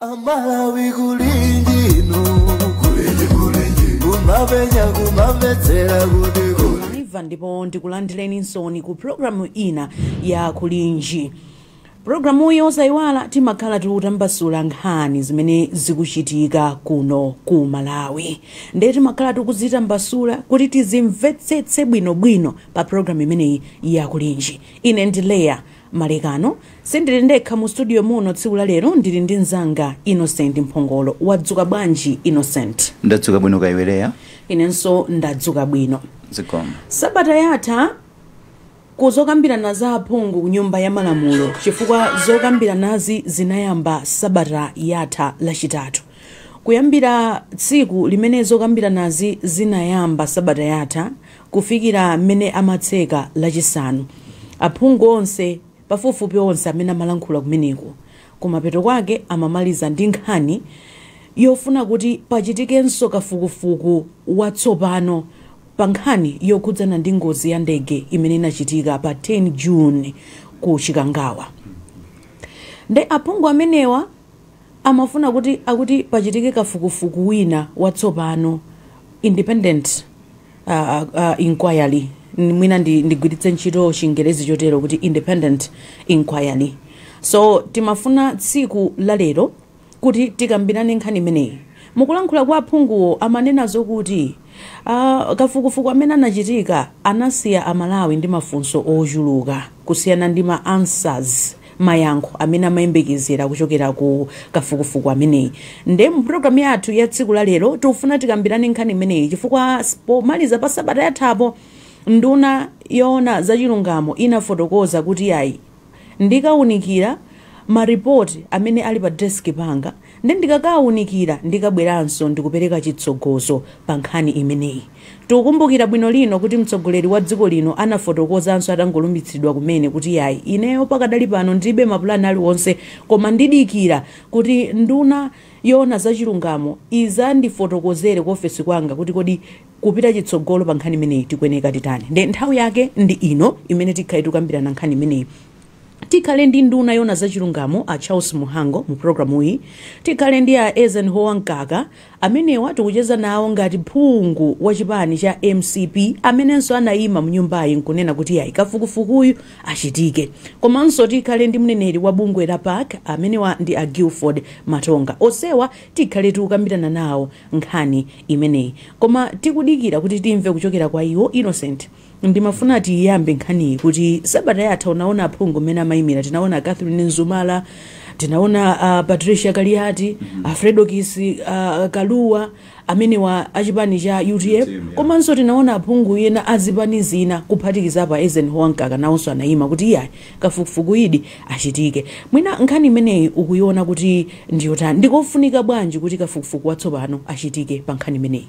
amalawi kulinji no kumapenya kumamvetsera kuti kuli live ndipo ndikulandireni nonse ku programu ina ya kulinji programuyi osaiwala timakhala tikutambasula nkhani zimene zikuchitika kuno ku malawi ndiye timakhala tikuzitambasula kuti tizimvetsetse bwinobwino pa programu imeneyi ya kulinji ine ndi leya Malekano, Sindili ndekha mu studio muno tsiku la lero ndili ndi mzanga Innocent Mphongolo. Wadzuka bwanji Innocent? Ndadzuka bwino kaya iwe Leah? Inenso ndadzuka bwino. Zikomo. Sabata yatha ku zokambirana za aphungu ku nyumba ya malamulo chifukwa zokambiranazi zinayamba sabata yatha lachitatu. Kuyambira tsiku limene zokambiranazi zinayamba sabata yatha, kufikira mmene amatseka Lachisanu. Aphungu onse, pafupifupi onse, amene amalankhula kumeneko kumapeto kwake amamaliza ndi nkhani yofuna kuti pachitikenso kafukufuku watsopano pa nkhani yokhudzana ndi ngozi ya ndege imene inachitika pa 10 June ku Chikangawa. Nde aphungu amenewa amafuna kuti pachitike kafukufuku wina watsopano, independent. uh, uh, uh, inquiry N- mwina ndi- ndigwiritse ntchito chingerezi chotero kuti independent inquiry so timafuna tsiku la lero kuti tikambirane nkhani imeneyi mukulankhula kwa aphunguwo amanena zokuti uh, kafukufuku amene anachitika anasiya amalawi ndi mafunso ochuluka kusiyana ndi ma answers mayankho amene amayembekezera kuchokera ku kafukufuku ameneyi nde mu program yathu ya tsiku la lero tikufuna tikambirane nkhani imeneyi chifukwa s- pomaliza pa sabata yathapo nduna yoona za chilungamo inafotokoza kuti ayi ndikaunikira maripoti amene ali pa desk panga Nde ndikakaunikira ndikabweranso ndi kupereka chitsogozo pa nkhani imeneyi. Tikukumbukira bwino lino kuti mtsogoleri wa dziko lino anafotokozanso atangolumbitsidwa kumene kuti yayi ineyo pakadali pano ndilibe mapulani aliwonse koma ndidikira kuti nduna yoona za chilungamo izandifotokozere ku ofesi kwanga kuti kodi kupita chitsogolo pa nkhani imeneyi tikuyeneka titani nde nthawi yake ndi ino imene tikhale tikukambirana nkhani imeneyi. Tikhale ndi nduna yoona za chilungamo a Charles Mhango mu programuyi, tikhale ndi a Eisenhower Mkaka, amenewa tikucheza nawo ngati phungu wa chipani cha mcp amenenso anaima mnyumbayi nkunena kuti yayi kafukufukuyu achitike, komanso tikhale ndi mneneri wa bungwe la pac amenewa ndi a Gilford Matonga. Onsewa tikhale tikukambirana nawo nkhani imeneyi koma tikudikira kuti timve kuchokera kwa iwo. Innocent. Ndimafuna tiyiyambe nkhaniyi kuti sabata yatha unaona aphungu mmene amayimira tinaona a Catherine Nzumala, tinaona a Patricia Kaliati, a Fredokiss a Kaluwa amenewa a chipani cha utm Utm, yeah. komanso tinaona aphungu ena a zipani zina kuphatikizapo a Eisenhower Mkaka nawonso anayima kuti iyayi kafukufukuyidi achitike. Mwina nkhani imeneyi ukuyiona kuti ndi yotani? Ndikofunika bwanji kuti kafukufuku watsopano achitike pa nkhani imeneyi?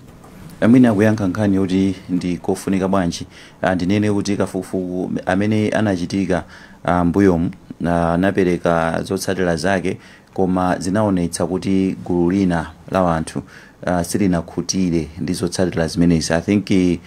Mwina kuyankha nkhani yoti ndikofunika bwanji, ndinene kuti kafukufuku amene anachitika m'mbuyomu anapereka zotsatira zake koma zinaonetsa kuti gulu lina la anthu silinakhutire ndi zotsatira zimenezi. I think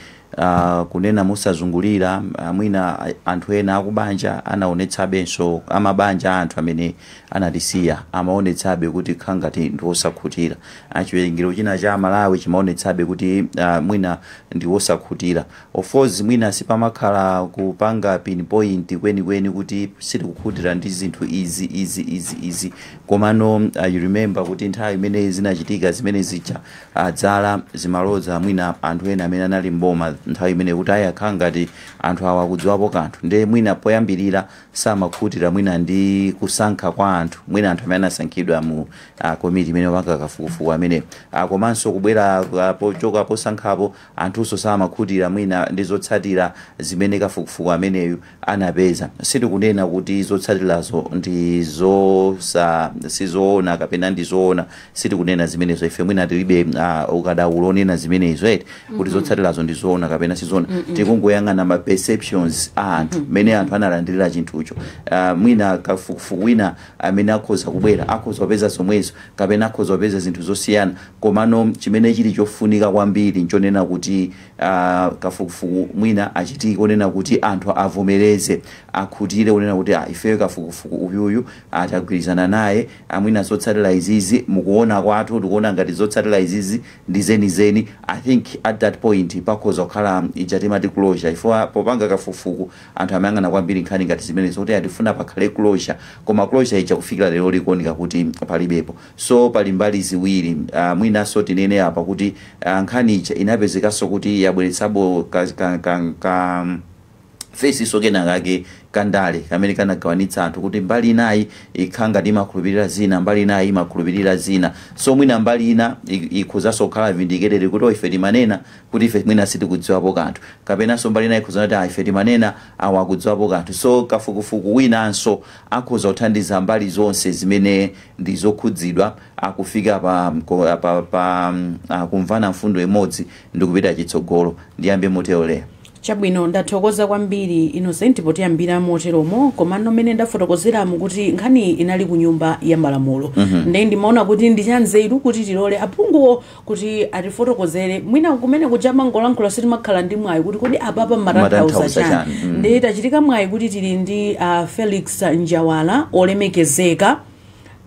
kunena mosazungulira, mwina anthu ena akubanja anaonetsabenso, amabanja a anthu amene anatisiya amaonetsabe kuti kukhala ngati ndi osakhutira. a chiwerengero china cha amalawi chimaonetsabe kuti a mwina ndi wosakhutira of course mwina sipamakhala kupanga pin point kwenikweni kuti sitikukhutira ndi zinthu izi izi izi izi komano uh, you remember kuti nthawi imene zinachitika zimene zija uh, dzala zimaloza mwina anthu ena amene anali m'boma nthawi imene kuti ah akukhala ngati anthu awa akudziwapo kanthu nde mwina poyambirira samakhutira mwina ndi kusankha kwa anthu, mwina anthu amene anasankhidwa mu a komiti imene imapanga kafukufuku ameneyo. A komanso kubwera a, pochoka posankhapo anthunso samakhutira mwina ndi zotsatira zimene kafukufuku ameneyu anapeza. Sitikunena kuti zotsatirazo ndi zosa sizoona kapena ndi zoona. sitikunena zimenezo ife mwina tilibe uh, ukadaulo onena zimenezo eti kuti zotsatirazo ndi zoona kapena sizoona tikungoyang'ana ma perceptions a anthu mmene anthu analandirira chinthucho uh, mwina kafukufuku wina amene akhoza kubwera akhoza kupeza zomwezo kapena akhoza kupeza zinthu zosiyana komano chimene chili chofunika kwambiri nchonena kuti uh, kafukufuku mwina achitike onena kuti anthu avomereze akhutire onena kuti ah, ifeyo kafukufuku uyuyu a tagwirizana naye a mwina zotsatila izizi mukuona kwathu tikuona ngati zotsatila izizi ndi zenizeni i think at that point pakhoza kukhala ija timati closure chifukwa popanga kafukufuku anthu amayang'ana kwambiri nkhani ngati zimenezo kuti a tifuna pakhale closure koma closure ija kufikila lero likuoneka kuti palibepo so pali mbali ziwiri ah, mwinanso tinene apa kuti ah, nkhani ija inapezekanso kuti yabweretsabe ka, ka, ka, ka face so kenakake ka ndale kamene kanagawanitsa anthu kuti mbali inayi ikhala ngati imakhulupirira zina mbali inayi imakhulupirira zina so mwina mbali ina ik- ikhozanso kukhala vindicated kuti "Oh, ife timanena kuti ife mwina sitikudziwapo kanthu kapenanso mbali inayi ikhoza kunena kuti "Ah, ife timanena awa akudziwapo kanthu so kafukufuku winanso akhoza kuthandiza mbali zonse zimene ndi zokhudzidwa a kufika pa, mko- pa, pa mm, ah, kumvana mfundo imodzi ndi kupita chitsogolo ndiyambe motero lero Chabwino, ndathokoza kwambiri Innocent potiyambira moteromo, komano mmene ndafotokozeramu kuti nkhaniyi inali ku nyumba ya malamulo nde ndimaona kuti ndi chanzeru kuti tilole aphunguwo kuti atifotokozere mwina kumene kuja amangolankhula sitimakhala ndi mwayi kuti kodi apapa mmatanthauza chani nde tachita mwayi kuti tili ndi ah, Felix Njawala olemekezeka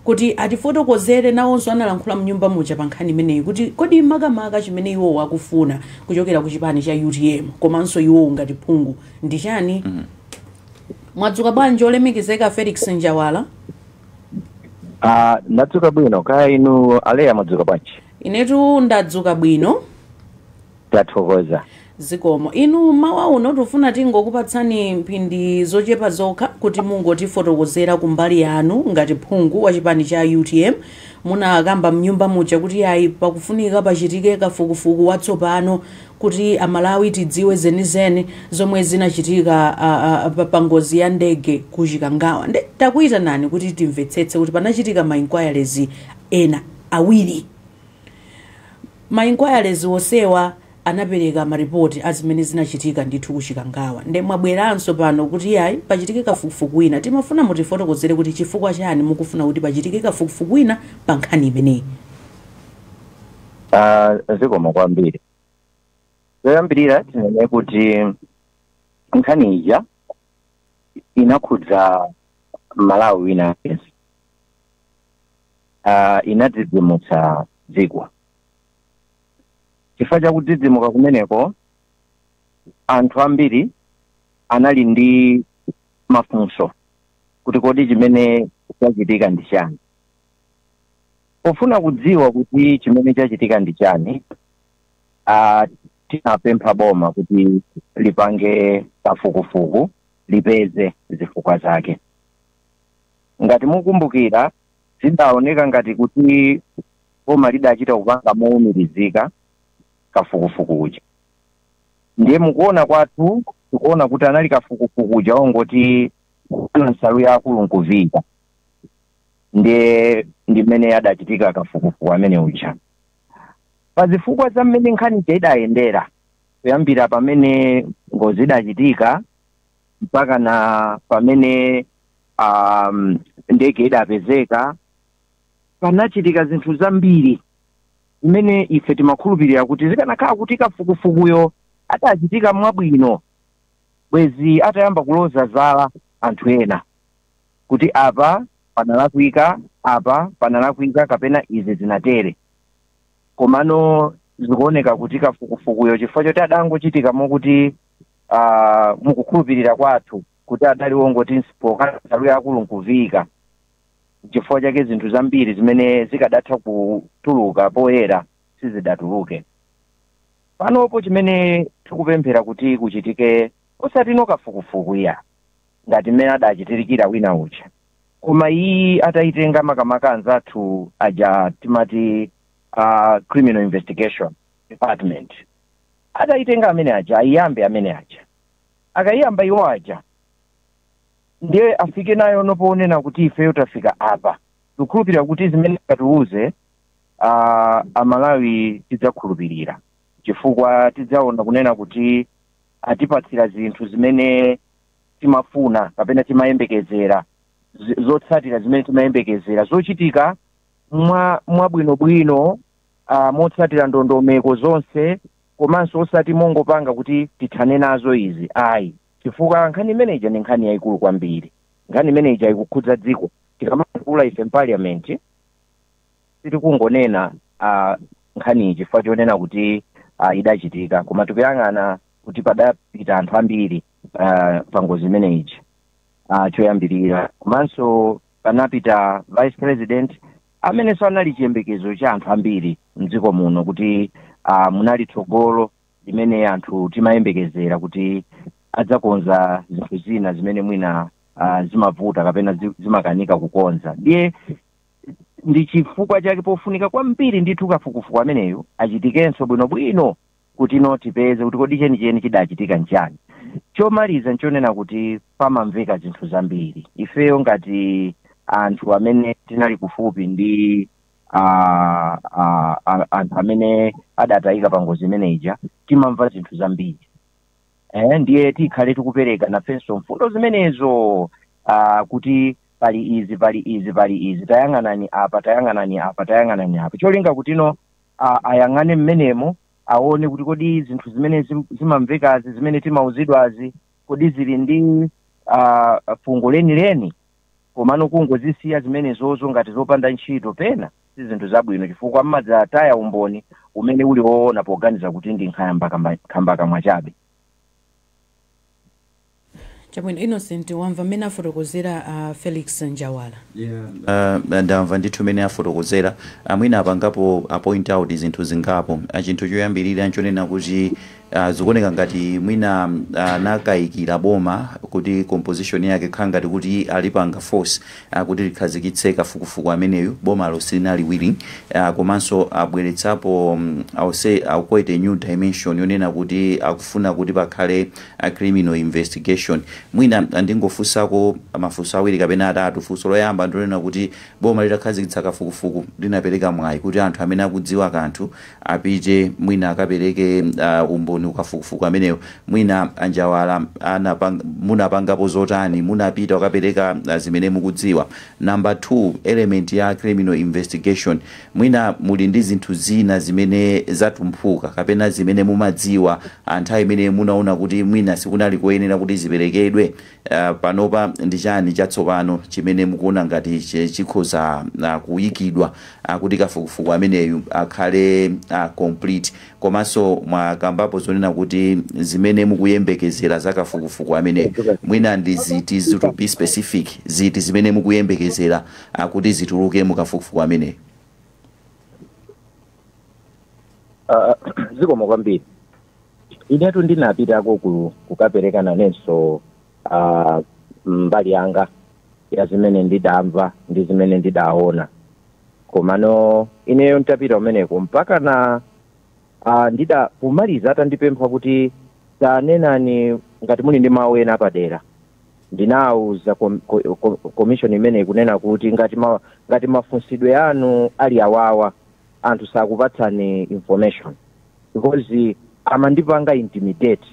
kuti atifotokozere nawonso analankhula mnyumba muja pa nkhani imeneyi kuti kodi makamaka chimene iwowo akufuna kuchokera ku chipani cha utm komanso iwowo ngati phungu ndi chani mwadzuka bwanji olemekezeka felix njawala Ah, ndadzuka bwino kaya inu aleya mwadzuka bwanji inetu ndadzuka bwino Tathokoza. Zikomo. Inu mmawa uno tufuna tingokupatsani mphindi zochepa zokha kuti mungotifotokozera kumbali yanu ngati phungu wa chipani cha utm. Munakamba mnyumba muja kuti yayi pakufunika pachitike kafukufuku watsopano kuti amalawi tidziwe zenizeni zomwe zinachitika a, a, pa, pa ngozi ya ndege ku Chikangawa. Nde takuyitanani kuti timvetsetse kuti panachitika ma inquiries ena awiri. Ma inquiries onsewa anapeleka ma report azimene zinachitika ndithu ku Chikangawa nde mwabweranso pano kuti iyayi pachitike kafukufuku wina. Timafuna mutifotokozere kuti chifukwa chani mukufuna kuti pachitike kafukufuku wina pa nkhani imeneyi. A, Zikomo kwambiri. Choyambirira tinene kuti nkhani ija inakhudza Mmalawi wina aliyense. uh, inadzidzimutsa dziko chifukwa cha kudzidzimuka kumeneko anthu ambiri anali ndi mafunso kuti kodi chimene chachitika ndi chani pofuna kudziwa kuti chimene chachitika ndi chani uh, tinapempha boma kuti lipange kafukufuku lipeze zifukwa zake ngati mukumbukira zidaoneka ngati kuti boma lidachita kupanga mowumirizika kafukufuku uja ndiye mukuona kwathu tikuona kuti anali kafukufuku uja ongoti nsalu ya lekaleka nkuviyika ndiye ndi mmene adachitika kafukufuku amene uja pa zifukwa za mmene nkhani ija idayendera kuyambira pamene ngozi idachitika mpaka na pamene um, ndege idapezeka panachitika zinthu zambiri zimene ife timakhulupirira kuti zikanakhala kuti kafukufukuyo adachitika mwabwino bwezi atayamba kuloza zala anthu ena kuti apa panalakwika apa panalakwika kapena izi zinatere komano zikuoneka kuti kafukufukuyo chifukwa choti adangochitika mokuti uh, mukukhulupirira kwathu kuti adali wongoti n'chipoka nsalu ya akulu nkuviika. Nchifukwa chake zinthu zambiri zimene zikadatha kutuluka poyera sizidatuluke. Panopo chimene tikupemphera kuti kuchitike osatino kafukufuku iya ngati mmene adachitirikira wina uja koma iyi ataitenga makamaka anzathu aja timati uh, criminal investigation department ataitenga amene aja ayiyambe amene aja akayiyamba iwo aja ndiye afike nayo mpaka ponena kuti ifeyo tafika apa tikukhulupirira kuti zimene akatiuze ah, amalawi tidzakhulupirira chifukwa tidzaona kunena kuti atipatsira zinthu zimene timafuna kapena timayembekezera zi- zotsatira zimene timayembekezera zochitika mwa mwabwinobwino ah, motsatira ndondomeko zonse komanso osati mongopanga kuti tithane nazo izi ayi chifukwa nkhani imene ija ndi nkhani yayikulu kwambiri nkhani imene ija ikukhudza dziko tikamayankhula ife mparliament sitikungonena uh, nkhaniyi chifukwa chonena kuti uh, idachitika koma tikuyang'ana kuti padapita anthu ambiri uh, pa ngozi imene ija uh, choyambirira komanso panapita vice president amenenso anali chiyembekezo cha anthu ambiri mdziko muno kuti uh, munali tsogolo limene anthu timayembekezera kuti adzakonza zinthu zina zimene mwina uh, zimavuta kapena zi- zimakanika kukonza ndiye ndi chifukwa chake pofunika kwambiri ndithu kafukufuku ameneyo achitikenso bwinobwino kutino tipeze kuti kodi chenicheni chidachitika nchiyani chomaliza nchonena kuti pamamveka zinthu zambiri ifeyo ngati anthu amene tinali kufupi ndi ah, ah, ah, anthu amene adatayika pa ngozi imene ija timamva zinthu zambiri eh, ndiye tikhale tikupereka nafenso mfundo zimenezo uh, kuti pali izi pali izi pali izi tayang'anani apa tayang'anani apa tayang'anani apa cholinga kutino a, ayang'ane mmenemo aone kuti kodi zinthu zimene zim- zimamvekazi zimene timauzidwazi kodi zili ndi uh, fungo lenileni komano kungozisiya zimenezozo ngati zopanda ntchito pena si zinthu zabwino chifukwa mmadzataya umboni umene uli woona poganiza kuti ndi nkhamba- nkhambakamwa chabe Chabwino, Innocent wamva mmene afotokozera a Felix Njawala? Yeah, ndamva ndithu mmene afotokozera. Mwina apangapo point out zinthu zingapo. Chinthu choyambirira nchonena kuti zikuoneka ngati mwina anakayikira boma kuti composition yake kukhala ngati kuti alipanga force kuti likhazikitse kafukufuku ameneyu, bomalo silinali willing komanso abweretsapo I will say quite a new dimension yonena kuti akufuna kuti pakhale a criminal investigation. Mwina ndingofunsako mafunso awiri kapena atatu. Funso loyamba ndilonena kuti boma litakhazikitsa kafukufuku linapereka mwayi kuti anthu amene akudziwa kanthu apite mwina akapereke umboni kukafukufuku ameneyo. Mwina a Njawala munapangapo zotani, munapita kukapereka zimene mukudziwa? Number two, element ya criminal investigation. Mwina muli ndi zinthu zina zimene zatumphuka kapena zimene mumadziwa nthawi imene munaona kuti mwina sikunali koyenera kuti ziperekedwe. Panopa ndi chani chatsopano chimene mukuona ngati chikhoza kuikidwa kuti kafukufuku ameneyu akhale complete? Komanso mwakambapo zonena kuti zimene mukuyembekezera za kafukufuku ameneyu mwina ndi ziti, to be specific, ziti zimene mukuyembekezera? kuti zituluke mu kafukufuku ameneyu? Ah, zikomo kwambiri inetu ndinapitako ku- kukapereka nanenso ah, mbali yanga ya zimene ndidamva ndi zimene ndidaona komano ineyo ntapita umeneko mpaka na Ah, ndida kumaliza atandipempha kuti tanenani ngati muli ndi mawu ena apadera ndinawuza kom- ko- ko- commission imeneyi kunena kuti ngati ma, ngati mafunsidwe anu ali awawa anthu sakupatsani information because amandipanga intimidate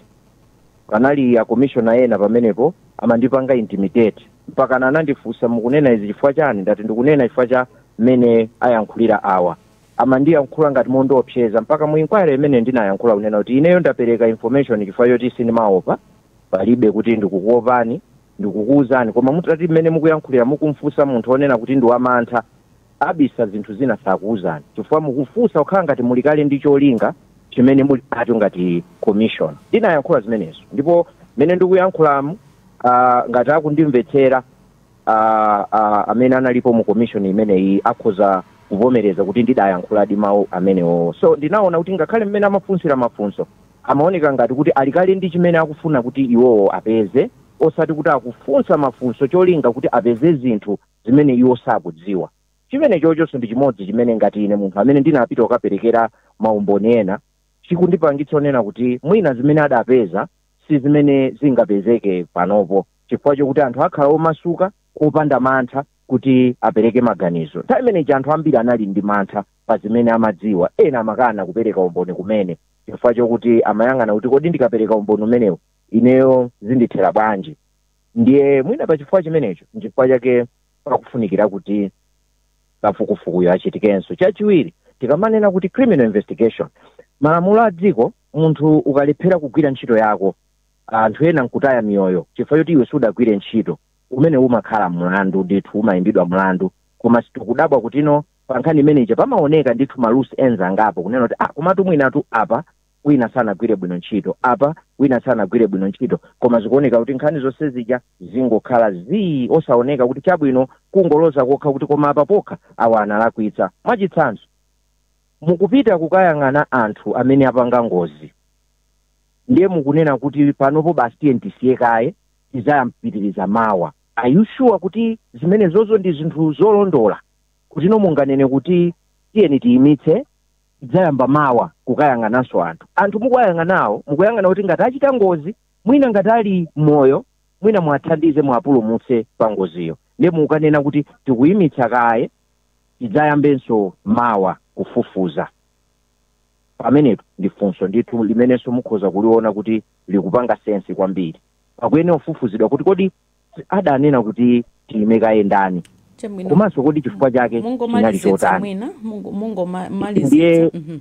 panali a commissioner ena pamenepo amandipanga intimidate mpaka anandifunsa mukunena izi chifukwa chani ndati ndikunena chifukwa cha mmene ayankhulira awa amandiyankhula ngati mondiopseza mpaka mu inquiry imene ndinayankhula kunena kuti ineyo ndapereka information chifukwa choti sindimaopa palibe kuti ndikukuopani ndikukuuzani koma mutati mmene mukuyankhulira mukumfunsa munthu onena kuti ndi wamantha abisa zinthu zina sakuuzani chifukwa mukufunsa kukhala ngati muli kale ndi cholinga chimene muli nacho ngati commission ndinayankhula zimenezo ndipo mmene ndikuyankhulamu ah, ngati akundimvetsera a, a, amene analipo mu commission imeneyi akhoza kuvomereza kuti ndidayankhuladi mawu amenewo so ndinaona kuti ngakhale mmene amafunsira mafunso amaoneka ngati kuti ali kale ndi chimene akufuna kuti iwowo apeze osati kuti akufunsa mafunso cholinga kuti apeze zinthu zimene iwo sakudziwa chimene chochonso ndi chimodzi chimene ngati ine munthu amene ndinapita kukaperekera maumboni ena chikundipangitsa kunena kuti mwina zimene adapeza si zimene zingapezeke panopo chifukwa chokuti anthu akhala omasuka opanda mantha kuti apereke maganizo nthawi imeneyi anthu ambiri anali ndi mantha pa zimene amadziwa ena amakana kupereka umboni kumene chifukwa chokuti amayang'ana kuti kodi ndikapereka umboni umenewu ineyo zindithera bwanji ndiye mwina pa chifukwa chimenecho nchifukwa chake pakufunikira kuti kafukufukuyo achitikenso chachiwiri tikamanena kuti criminal investigation malamulo a dziko munthu ukalephera kugwira ntchito yako anthu ena nkutaya miyoyo chifukwa choti iwe sudagwire ntchito umenewu umakhala mlandu ndithu umayimbidwa mlandu koma tikudabwa kutino pa nkhani imene ija pamaoneka ndithu ma loose ends angapo kunena kuti ah komatu mwinatu apa wina sanagwire bwino ntchito apa wina sanagwire bwino ntchito koma zikuoneka kuti nkhani zonse zija zingokhala zii osaoneka kuti chabwino kungoloza kokha kuti koma apa pokha awa analakwitsa mwachitsanzo mukupita kukayang'ana anthu amene apanga ngozi ndiye mukunena kuti panopo basi tiyeni tisiye kaye tidzapitiriza mawa are you sure kuti zimenezozo ndi zinthu zolondola kutino munganene kuti tiyeni tiyimitse tidzayamba mawa kukayang'ananso anthu anthu mukuwayang'anawo mukuyang'ana kuti ngati achita ngozi mwina ngati ali moyo mwina muwathandize muwapulumutse pa ngoziyo ndiye mukanena kuti tikuyimitsa kaye tidzayambenso mawa kufufuza pamenepo ndi funso ndithu limenenso mukhoza kuliona kuti likupanga sensi kwambiri pakuyenera kufufuzidwa kuti kodi adanena kuti tiime kaye ndani chabwino komanso kodi chifukwa chake chinali mungomalizetsa chotani mwina mungo- mungomalizetsa Ndiye- Mhm.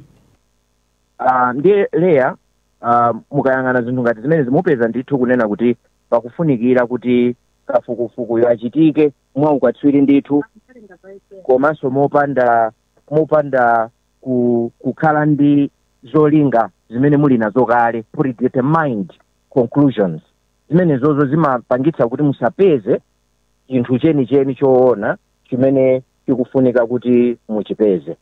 Ah, ndiye eya ah, mukayang'ana zinthu ngati zimenezi mupeza ndithu kunena kuti pakufunikira kuti kafukufukuyo achitike mwaukatswiri ndithu komanso mopanda mopanda ku, kukhala ndi zolinga zimene muli nazo kale predetermined conclusions zimenezozo zimapangitsa kuti musapeze chinthu chenicheni choona chimene chikufunika kuti muchipeze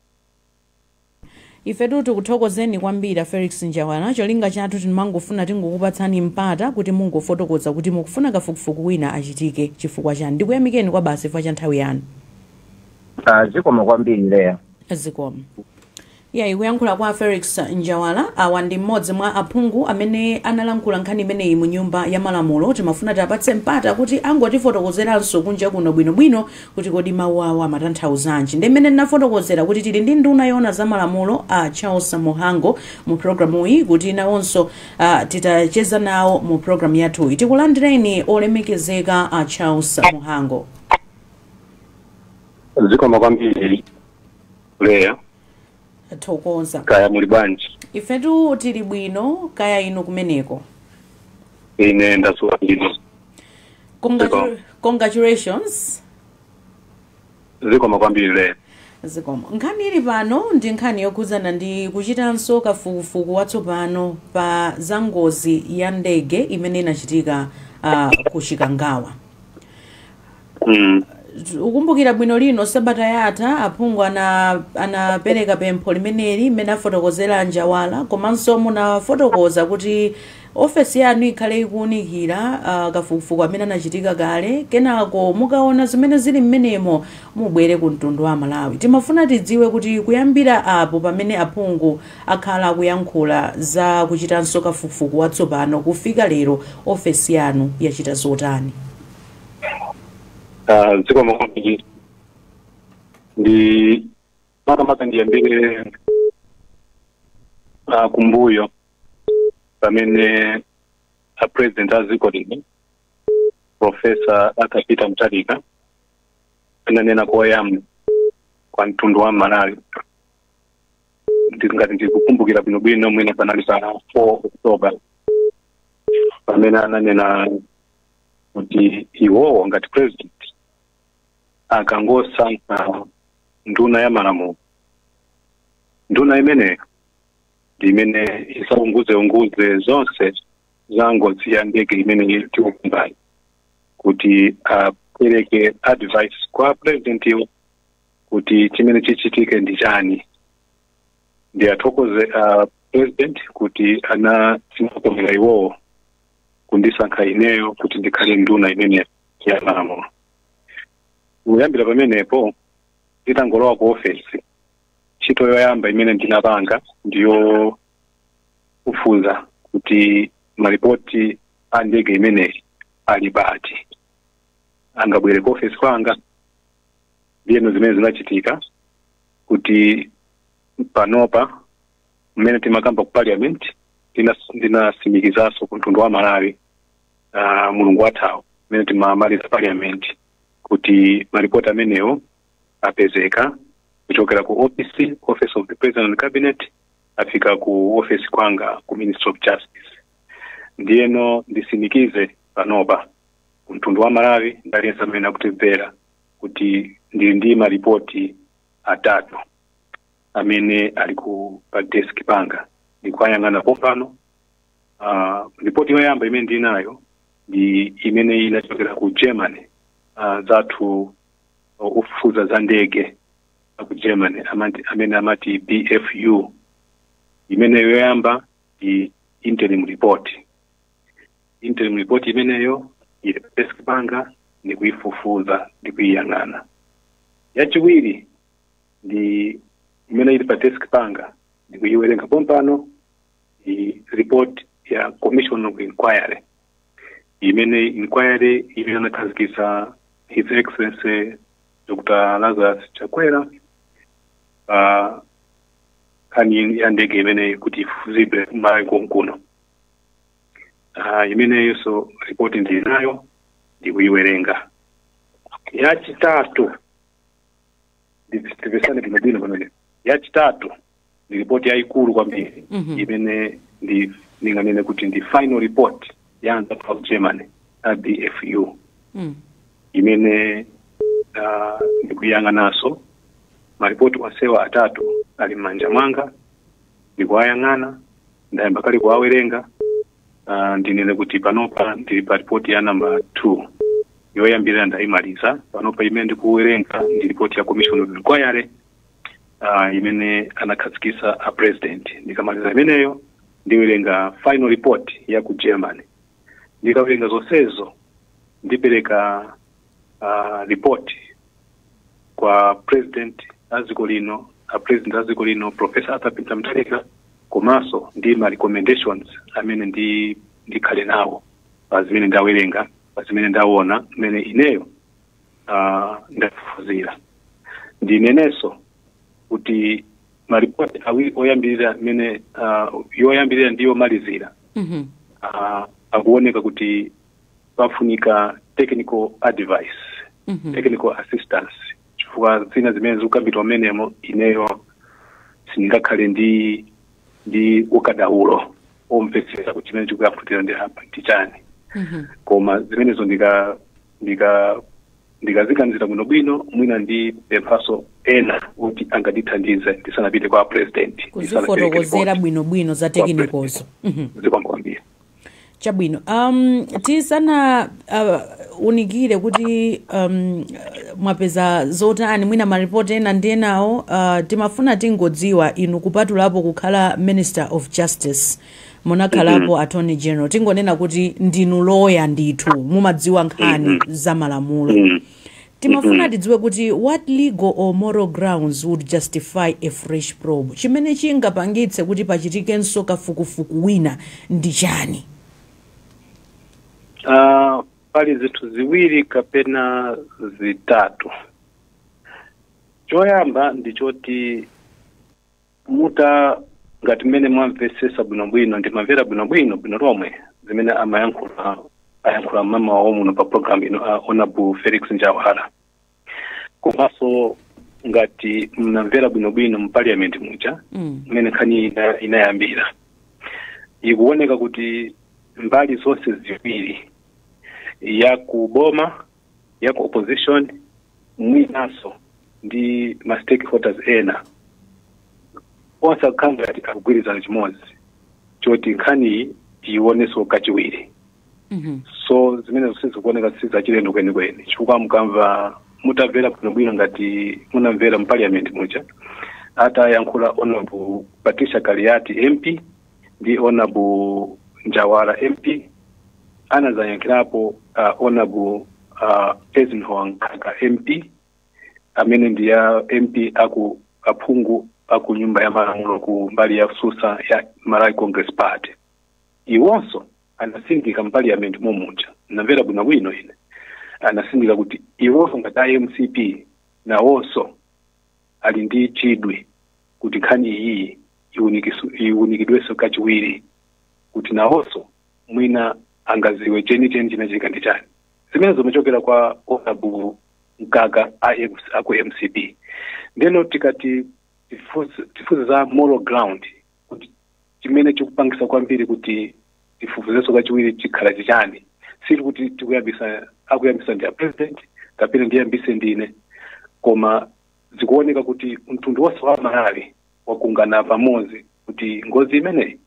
ifetu tikuthokozeni kwambiri a felix njawala cholinga chathu timangofuna tingokupatsani mpata kuti mungofotokoza kuti mukufuna kafukufuku wina achitike chifukwa chani ndikuyamikeni kwabasi chifukwa cha nthawi yanu Ah, zikomo kwambiri leya zikomo ya uku kuyankhula kwa felix njawala awa ndi mmodzi mwa aphungu amene analankhula nkhani imeneyi mu nyumba ya malamulo timafuna tiapatse mpata kuti angotifotokozeranso kunja kuno bwinobwino kuti kodi mawu awo amatanthauzanji ndi mmene ndinafotokozera kuti tili ndi nduna yoona za malamulo a charles mhango mu programu iyi kuti nawonso uh, tichezeko nawo mu programu yathuyi tikulandireni olemekezeka a charles mhango zikomo kwambiri leya ndathokoza kaya muli bwanji ifetu tili bwino kaya inu kumeneko ine ndadzuka bwino Congratu- congratulations zikomo kwambiri leya zikomo nkhani ili pano ndi nkhani yokhudzana ndi kuchitanso kafukufuku watsopano pa za ngozi ya ndege imene inachitika uh, ku chikangawa mm. mukumbukira bwino lino sabata yatha aphungu ana- anapereka pempho limeneli mmene afotokozera a njawala komanso munafotokoza kuti ofesi yanu ikhale ikuunikira ah, kafukufuku amene anachitika kale kenako mukaona zimene zili mmenemo mubwere ku mtundu wa malawi timafuna tidziwe kuti kuyambira apo pamene aphungu akhala akuyankhula za kuchitanso kafukufuku watsopano kufika lero ofesi yanu yachita zotani Ah, zikomo kwambiri ndi makamaka ndiyambire ah, kumbuyo pamene a president a dziko lino profesa arthur peter mutharika ananena koyamba kwa mtundu wa malawi ndi ngati ndikukumbukira bwinobwino mwina panali pa 4 october pamene ananena kuti iwowo ngati president akangosankha nduna ya malamulo nduna imeneyo ndi imene idzaunguzeunguze zonse za ngozi ya ndege imene tikukambayi kuti apereke advice kwa president iwo kuti chimene chichitike ndi chani ndiwathokoze a president kuti anandikomera iwowo kundisankha ineyo kuti ndikhale nduna imeneyi ya malamulo kuyambira pamenepo nditangolowa ku ofesi ntchito yoyamba imene ndinapanga ndiyo kufufuza kuti malipoti a ndege imeneyi ali pati angabwere ku ofesi kwanga ndiyeno zimene zinachitika kuti panopa mmene timakamba ku parliament ndinas- ndinasimikizanso ku mtundu wa malawi uh, mulungu wathawo mmene timamaliza parliament kuti maripoti amenewo apezeka kuchokera ku office office of the president and cabinet afika ku office kwanga ku ministry of justice ndiyeno ndisimikize panopa ku mtundu wa malawi ndaliyense amene akutimvera kuti ndili ndi maripoti atatu amene ali ku pa desk panga ndikuwayang'ana pompano uh, ripoti yoyamba imene ndinayo ndi imene inachokera ku germany uh, anzathu uh, ofufuza za ndege aku germany amati, amene amati bfu imeneyo yoyamba ndi interim report interim report imeneyo ili pa desk panga ndikuyifufuza ndikuyiyang'ana yachiwiri ndi imene ili pa desk panga ndikuyiwerenga pompano ndi report ya commission of inquiry imeneyi inquiry imene anakhazikitsa his excellency dr lazarus chakwera pa nkhani ya ndege imeneyi kuti ifufuzidwe malawi konkuno uh, imeneyonso ripoti ndili nayo ndikuyiwerenga yachitatu ndipepese bwinobwino pamene yachitatu ndi ripoti yayikulu kwambiri Mhm. imene ndi ndinganene kuti ndi final report ya anzathu a ku germany a bfu Mm. imene uh, ndikuyiyang'ananso maripoti onsewa atatu ali m'manja mwanga ndikuwayang'ana ndayamba kale kuwawerenga Uh, ndinene kuti panopa ndili pa ripoti ya namba 2 yoyambirira ndayimaliza panopa imene ndikuwerenga ndi ripoti ya commission of inquiry uh, imene anakhazikitsa a president ndikamaliza imeneyo ndiwerenga final report ya ku germany ndikawerenga zonsezo ndipereka uh, report kwa president a dziko lino a president a dziko lino professor arthur peter mutharika komanso ndi ma recommendations amene ndi ndikhale nawo pa zimene ndawerenga pa zimene ndaona mmene ineyo uh, ndafufuzira ndinenenso kuti maripoti awiri oyambirira mmene uh, yoyambirira ndi yomalizira Mhm. uh, akuoneka kuti pafunika technical advice mm -hmm. technical assistance chifukwa zina zimene zikukambidwa mmenemo ineyo sindingakhale ndi ndi ukadaulo omvetsetsa kuti chimene chikuyankhulidwa apa ndi chani mm -hmm. koma zimenezo ndika ndika ndikaziganizira bwino bwino mwina ndipemphanso ena kuti angandithandize ndisanapite kwa president kuzifotokozera bwino bwino za tekinikozo zikomo kwambiri chabwino um, tisana uh, unikire kuti um, mwapeza zotani mwina maripoti ena ndi enawo uh, timafuna tingodziwa inu kupatulapo kukhala minister of justice munakhalapo attorney general tingonena kuti ndinu loya ndithu mumadziwa nkhani za malamulo Timafuna Mhm. tidziwe kuti what legal or moral grounds would justify a fresh probe? Chimene chingapangitse kuti pachitikenso kafukufuku wina ndi chani? Ah, pali zinthu ziwiri kapena zitatu choyamba ndi choti muta ngati mmene mwamvetsesa bwinobwino ndimamvera bwinobwino bwino lomwe zimene amayankhula ayankhula m'mamawa wa muno pa program ino a honorable felix njawala komanso ngati munamvera bwinobwino mu parliament muja Mm. mmene nkhani ina- inayambira ikuoneka kuti mbali zonse ziwiri ya kuboma ya ku opposition mwinanso ndi ma stakeholders ena onse akukhala ngati akugwirizana chimodzi choti nkhaniyi tiyiwonenso kachiwiri Mhm. so zimenezo zikuoneka sizachilendo kwenikweni chifukwa mukamva mutamvera bwinobwino ngati munamvera mu parliament muja atayankhula honorable patricia kaliati mp ndi honorable njawala mp anadzayankhirapo uh, honorable uh, eisenhower mkaka mp amene ndi a mp aku aphungu aku nyumba ya malamulo ku mbali yotsutsa ya malawi congress party iwonso anatsindika mu parliament momuja ndamvera bwinobwino ine anatsindika kuti iwonso ngati a mcp nawonso ali ndi chidwi kuti nkhani iyi iunikisu- iunikidwenso kachiwiri kuti nawonso mwina angadziwe chenicheni chinachitika ndi chani zimene zimachokera kwa honorable mkaka a M- aku mcp ndeno tikati tifunse tifunse za moral ground kuti chimene chikupangisa kwambiri kuti tifufuzenso kachiwiri chikhala chichani sili kuti tikuyambisa akuyambisa ndi a president kapena ndiyambise ndine koma zikuoneka kuti mtundu wonse wa malawi wagwirizana pamodzi kuti ngozi imeneyi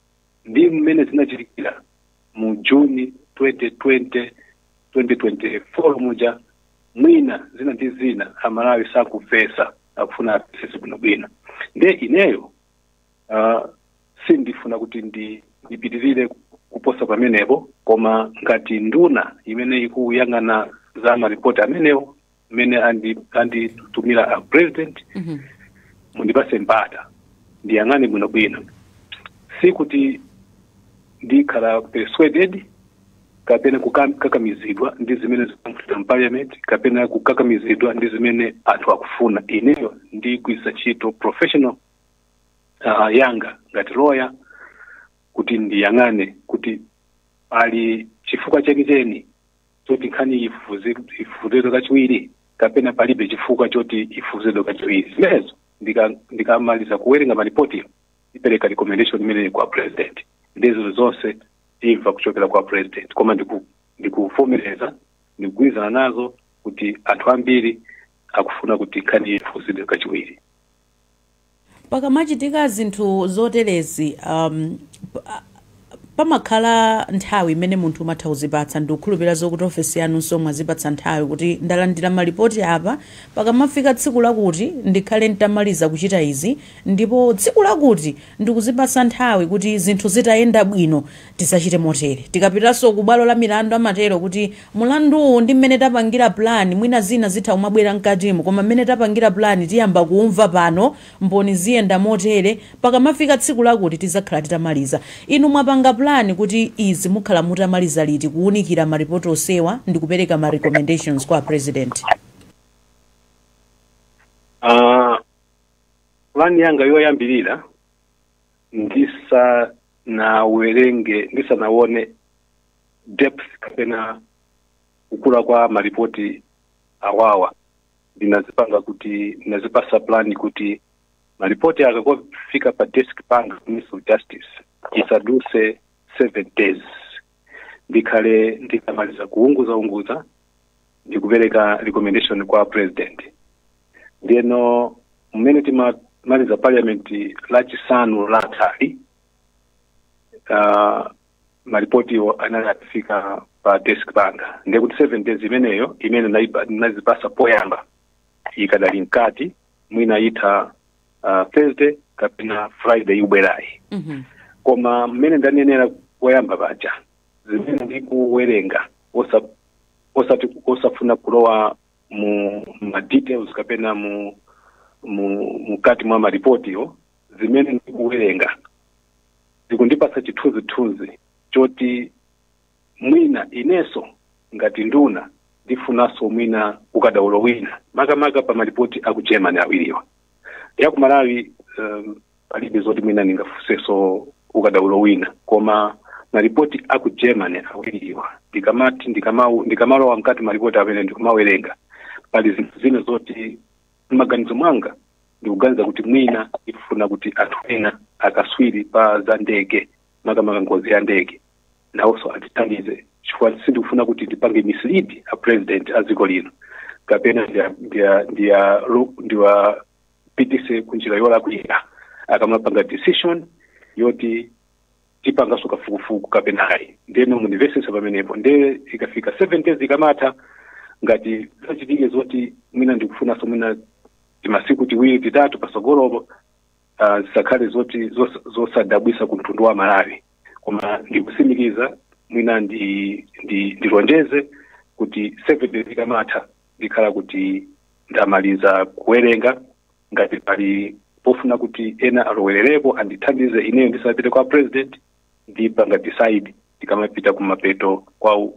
ndi mmene zinachitikira mu June 2020 2024 muja mwina zina ndi zina amalawi sakumvetsa akufuna amvetse bwinobwino nde ineyo uh, sindifuna kuti ndi ndipitirire kuposa pamenepo koma ngati nduna imene ikuyang'ana za maripoti amenewo mmene andi- anditumira a president Mhm. mundipatse mpata ndiyang'ane bwinobwino sikuti ndikhala persuaded kapena kukakamizidwa ndi zimene zikuchitika mparliament kapena kukakamizidwa ndi zimene anthu akufuna ineyo ndigwiritsa ntchito professional uh, yanga ngati loya kuti ndiyang'ane kuti pali chifukwa chenicheni choti nkhani ifufuzidwe kachiwiri kapena palibe chifukwa choti ifufuzidwe kachiwiri zimenezo ndika- ndikamaliza kuwerenga malipoti ndipereka recommendation imeneyi kwa president nde zinthu zonse timva kuchokera kwa president koma ndiku- ndikuvomereza ndikugwirizana nazo kuti anthu ambiri akufuna kuti nkhani ifufuzidwe kachiwiri pakamachitika zinthu zoterezi um, pa- pamakhala nthawi imene munthu umatha kuzipatsa ndikukhulupirira zokuti ofesi yanunso mwazipatsa nthawi kuti ndalandira malipoti apa pakamafika tsiku lakuti ndikhale nditamaliza kuchita izi ndipo tsiku lakuti ndikuzipatsa nthawi kuti zinthu zitayenda bwino tizachite motere, tikapitanso ku bwalo la milandu amatero kuti mulanduwu ndi mmene tapangira plan mwina zina zitha kumabwera mkatimo koma mmene tapangira plan tiyamba kuumva pano, mboni ziyenda motere, pakamafika tsiku lakuti tizakhala titamaliza. Inu mwapanga plan kuti izi mukhala mutamaliza liti kuunikira maripoti onsewa ndikupereka ma recommendations kwa a president? Ah, plan yanga yoyambirira ndisanawerenge ndisanaone depth kapena kukula kwa maripoti awawa ndinazipanga kuti ndinazipasa plan kuti maripoti akangofika pa desk panga ministry of justice isaduse seven days ndikhale nditamaliza kuunguzaunguza ndi kupereka recommendation kwa president ndiyeno mmene timamaliza parliament lachisanu lathali uh, malipotiwo anali atafika pa desk panga ndiye kuti seven days imeneyo imene ndaipa- ndinazipasa poyamba ikadali mkati mwina itha uh, thursday kapena friday ikubwerayi Mhm. koma mmene ndanenera koyamba paja zimene ndikuwerenga osa- osati osafuna kulowa mu ma details kapena mu mu mkati mwa maripotiyo zimene ndikuwerenga zikundipasa chithunzithunzi choti mwina ineso ngati nduna ndifunaso mwina ukadaulo wina makamaka pa malipoti aku germany awiriwa ya ku malawi um, palibe zoti mwina ndingafuseso ukadaulo wina koma malipoti aku germany awiriwa ndikamati ndikamau- ndikamalowa mkati malipoti amene ndikumawerenga pali zinthu zina zoti mmaganizo mwanga ndikuganiza kuti mwina ndikufuna kuti anthu ena akaswiri pa za ndege makamaka ngozi ya ndege nawonso andithandize chifukwa sindikufuna kuti ndipange mislead a president a dziko lino kapena ndiya- ndiya- ndiya- ro- ndiwapitise ku njira yolakwika akamapanga decision yoti tipanganso kafukufuku kapena ayi ndeno mundimvesese pamenepo nde ikafika seven days ikamatha ngati zachitike zoti mwina ndikufunanso mwina timasiku tiwiri titatu pasogolopo uh, zisakhale zoti zos, zosadabwisa ku mtundu wa amalawi koma ndikusimikiza mwina ndi ndi ndilonjeze kuti seven days ikamatha ndikhala kuti ndamaliza kuwerenga ngati pali pofuna kuti ena alowererepo andithandize ineyo ndisanapite kwa president ndipanga decide ndikamapita kumapeto kwa uh,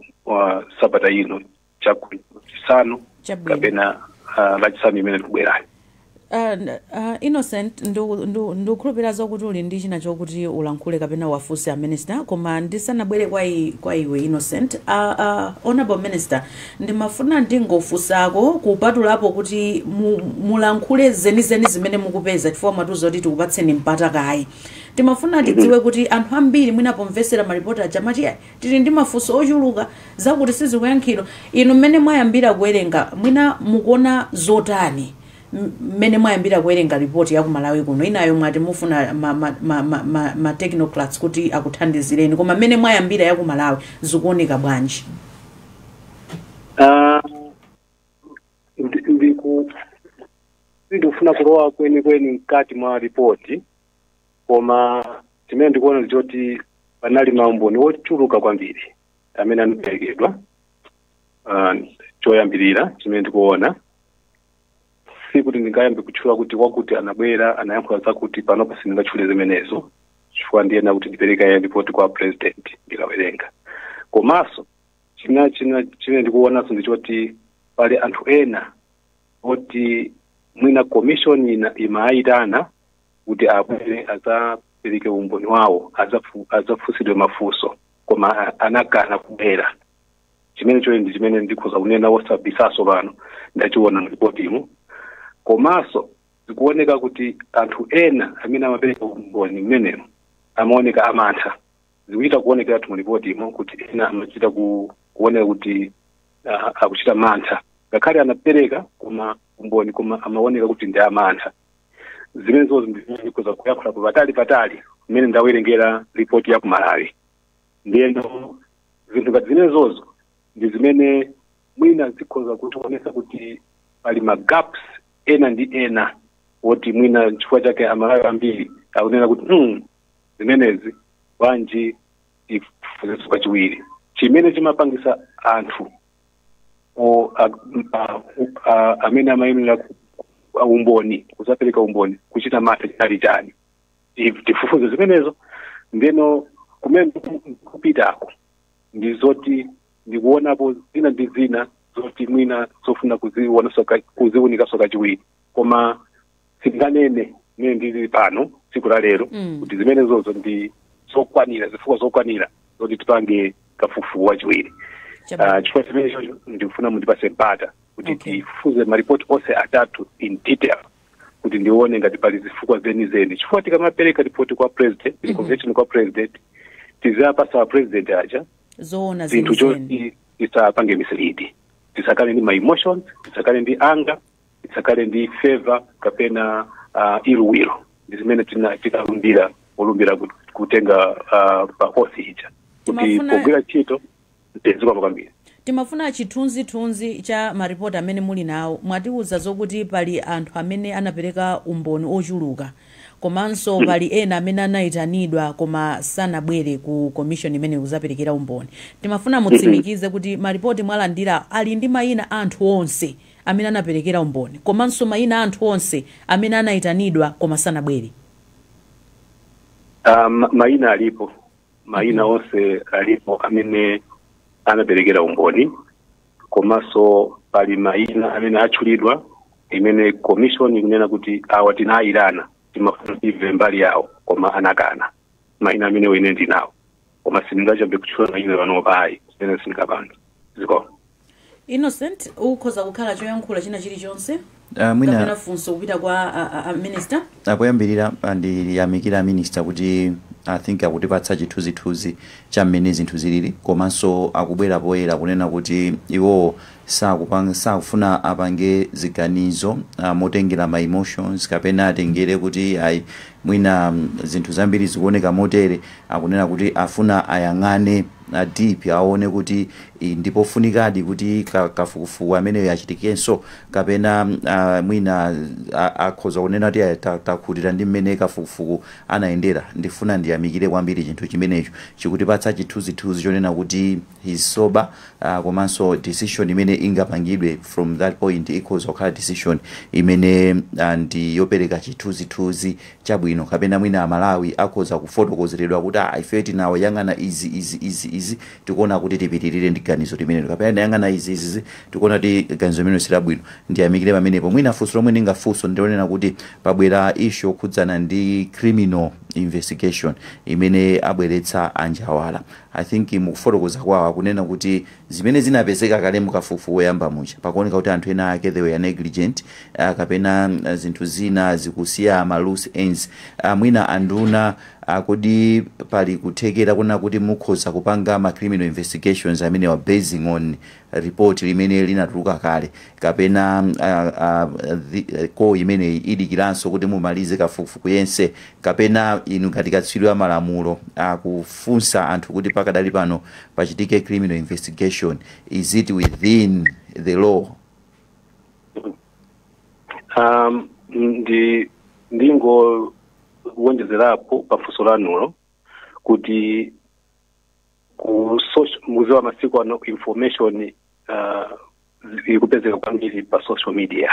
sabata ino chachisanu Chabwino. kapena uh, lachisanu imene likubwerayo Uh, n- uh, innocent ndu- ndu- ndikukhulupirira zokuti uli ndi china chokuti ulankhule kapena uwafunse a minister koma ndisanabwere kwa, i- kwa iwe innocent uh, uh, honorable minister ndimafuna ndingofunsako kupatulapo kuti mu, mulankhule zenizeni zimene mukupeza chifukwa mwatiuza kuti tikupatseni mpata kaye timafuna tidziwe kuti anthu ambiri mwina pomvesera maripoti aja amati "Ayi, Tili ndi mafunso ochuluka, zakuti sizikuyankhidwa. Inu mmene mwayambira kuwerenga, mwina mukuona zotani mmene mwayambira kuwerenga report ya ku Malawi kuno? Inayo mwati mufuna ma ma ma ma ma ma technocrats kuti akuthandizireni, koma mmene mwayambira ya ku Malawi zikuoneka bwanji? Ah, ndi- ndiku sindikufuna kulowa kwenikweni mkati mwa ripoti koma chimene ndikuona ndi choti panali maumboni ochuluka kwambiri amene anaperekedwa Ah, choyambirira chimene ndikuona sikuti ndingayambe kutchula kuti wakuti anabwera anayankhula zakuti panopo sindingatchule zimenezo chifukwa ndiyenera kuti ndipereke kaye ripoti kwa president ndikawerenga komanso china china chimene ndikuonanso ndi choti pali anthu ena oti mwina commission ina imayitana kuti abwere adzapereke umboni wawo adzafu- adzafunsidwe mafunso koma a- anakana kubwera chimene chocho ndi chimene ndikhoza kunena wosabisaso pano ndachiona mlipotimo komanso zikuoneka kuti anthu ena amene amapereka umboni mmenemo amaoneka amantha zikuchita kuonekeratu mulipotimo kuti ena amachita ku- kuoneka kuti ah, akuchita mantha ngakhale anapereka koma umboni koma amaoneka kuti ndi amantha zimenezo ndikhoza kuyakhula ku patali patali mmene ndawerengera ripoti ya ku malawi ndiyeno zinthu ngati zimenezozo ndi zimene mwina zikhoza kutionesa kuti pali magaps ena ndi ena woti mwina chifukwa chake amalawi ambiri akunena kuti mm, zimenezi bwanji ifuzeso kachiwiri chimene chimapangisa anthu o- a- a- a- amene amayenera ku- a- umboni kuzapereka umboni kuchita mantha chinali chani Ti- tifufuze zimenezo ndeno kumene kupitako ndi zoti ndikuonapo zina ndi zina zoti mwina zofuna kuzionaso ka- kuziunikaso kachiwiri koma sindinganene mene ndili pano tsiku la lero Mm. kuti zimenezozo ndi zokwanira zifukwa zokwanira zoti tipange kafukufuku wachiwiri Chabwino. Ah, chifukwa chimenecho ndikufuna mundipase mpata kuti Okay. tifufuze maripoti onse atatu in detail kuti ndione ngati pali zifukwa zenizeni chifukwa tikamapereka ripoti kwa president mm recommendation kwa president tizapasa president aja zoona zinthu zenizeni zoti tisapange mislead tisakhale ndi ma emotions tisakhale ndi anger tisakhale ndi favour kapena uh, ill will ndi zimene tina- tinalumbira polumbira kut- kutenga uh, pa oath ija kuti Timafuna- pogwira ntchito tizikoma kwambiri timafuna chithunzithunzi cha maripoti amene muli nawo mwatiwuza zokuti pali anthu amene anapereka umboni ochuluka komanso pali ena amene anayitanidwa koma sanabwere ku komishoni imene kuzapereka umboni timafuna mutsimikize kuti maripoti mwalandira ali ndi mayina a anthu onse amene anaperekera umboni komanso mayina a anthu onse amene anaitanidwa koma sanabwere? Ah, ma- mayina alipo mayina onse alipo amene anaperekera umboni komanso pali mayina amene atchulidwa imene commission ikunena kuti awa tinayitana timafuna timve mbali yawo koma anakana mayina amenewo ine ndinawo koma sindingayambe kutchula mayina panopa ayi zimenezo sindingapange zikomo innocent ukhoza kukhala choyankhula china chilichonse Ah, mwina kapena funso kupita kwa a- a- a minister ah poyambirira ndiyamikire aminista kuti i think akutipatsa chithunzithunzi cha mmene zinthu zilili komanso akubwera poyera kunena kuti iwowo sakupanga sakufuna apange ziganizo motengera ma emotions kapena atengere kuti ayi mwina zinthu zambiri zikuoneka motere akunena kuti afuna ayang'ane deep aone kuti i, ndi pofunikadi kuti ka- kafukufuku ameneyo achitikenso kapena ah, mwina a- akhoza kunena kuti ayi, ta- takhutira ndi mmene kafukufuku anayendera ndifuna ndiyamikire kwambiri chinthu chimenecho chikutipatsa chithunzithunzi chonena kuti he's sober uh, komanso decision imene ingapangidwe from that point ikhoza kukhala decision imene uh, ndi yopereka chithunzithunzi chabwino kapena mwina amalawi akhoza kufotokozeredwa kuti ah, ife titayang'ana izi izi izi izi tikuona kuti tipitirire ndi ganizo limenelo kapena tayang'ana izi izi izi tikuona kuti ganizo limenelo silabwino ndiyamikire pamenepo mwina funso lomwe ndingafunse ndi lonena kuti pabwera issue yokhudzana ndi criminal investigation imene abweretsa a Njawala I think mukufotokoza kwawo akunena kuti zimene zinapezeka kale mukafukufuku oyamba muja pakuoneka kuti anthu ena ake they were negligent ah, kapena ah, zinthu zina zikusiya ma loose ends ah, mwina anduna ah, kodi pali kuthekera kunena kuti mukhoza kupanga ma criminal investigations amenewa basing on report limene linatuluka kale kapena a, a, thi, call imeneyi idikiranso kuti mumalize kafukufuku yense kapena inu ngati katswiri wa malamulo kufunsa anthu kuti pakadali pano pachitike criminal investigation is it within the law um, ndi ndingowonjezerapo pafunso lanulo kuti ku social mudziwa masiku ano information uh, ikupezeka kwambiri pa social media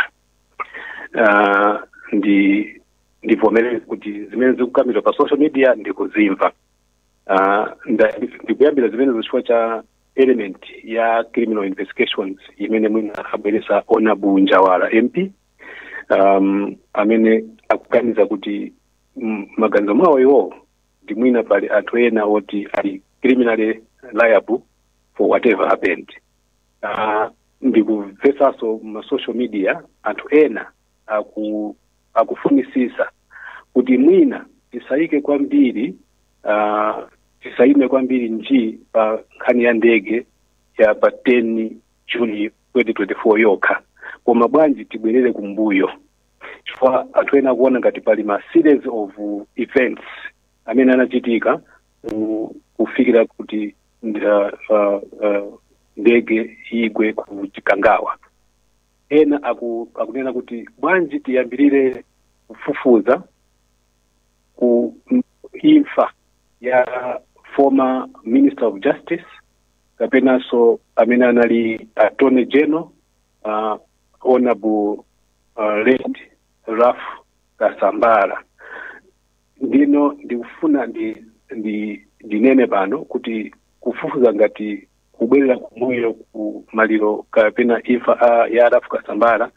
uh, ndi ndivomereze kuti zimene zikukambidwa pa social media ndikuzimva uh, nda- ndikuyambira zimene chifukwa cha element ya criminal investigations imene mwina abweresa honourable Njawala mp um, amene akuganiza kuti mm, m'maganizo mwawo iwowo ndi mwina pali anthu ena oti ali criminally liable for whatever happened uh, ndikumvesanso ma social media anthu ena aku akufunisisa kuti mwina tisayike kwambiri uh, tisayime kwambiri nji pa nkhani ya ndege ya pa 10 june 2024 yokha koma bwanji tibwerere kumbuyo chifukwa anthu ena akuona ngati pali ma series of events amene anachitika ku- kufikira kuti nda- uh, uh, ndege igwe ku chikangawa ena aku, akunena kuti bwanji tiyambirire kufufuza ku m- imfa ya former minister of justice kapenanso amene anali attorney general uh, honorable uh, late ralph kasambara ndiye ndikufuna ndi, ndi ndinene pano kuti kufufuza ngati kubwerera kumbuyo ku maliro kapena imfa a- ya ralph kasambara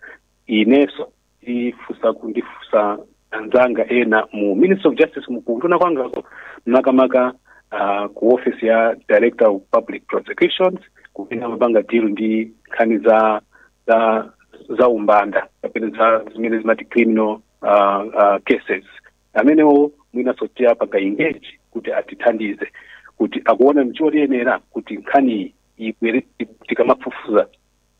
inenso ndifunsa kundifunsa anzanga ena mu ministry of justice mu- kunduna kwangako makamaka uh, ku office ya director of public prosecutions kumene amapanga deal ndi nkhani za za za umbanda kapena za zimene timati criminal uh, uh, cases amenewo mwinanso tiwapanga engage kuti atithandize kuti akuona ncholiyenera kuti nkhaniyi ibwere tikamafufuza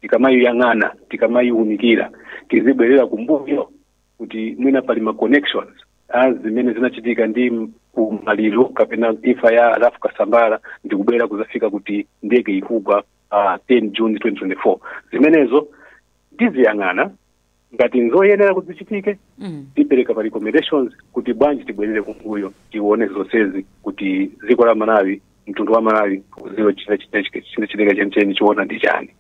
tikamayiyang'ana tikamayiwunikira tizibwerera kumbuyo kuti mwina pali ma connections a zimene zinachitika ndi m- ku maliro kapena imfa ya ralph kasambara ndi kubwera kuzafika kuti ndege ikugwa uh, 10 june 2024 zimenezo tiziyang'ana ngati nzoyenera kuti zichitike Mm. tipereka pa recommendations kuti bwanji tibwerere kumbuyo tione zonsezi kuti dziko la malawi mtundu wa malawi uziwe chinachitika chenicheni chiona ndi chani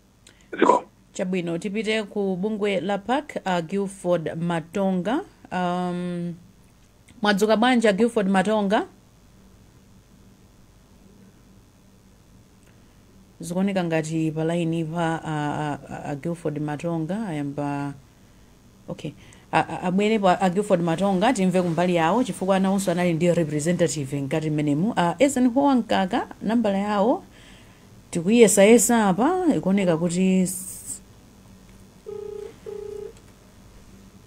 ziko chabwino tipite ku bungwe la pac uh, gilford matonga um, mwadzuka bwanji a gilford matonga Zikuoneka ngati pa lainipa a a a a Gilford Matonga ayamba okay a- a- abwerepo a a Gilford Matonga timve kumbali yawo chifukwa nawonso anali ndi representative mkati mmenemu a Eisenhower Mkaka nambala yawo tikuyesayesa apa ikuoneka kuti s-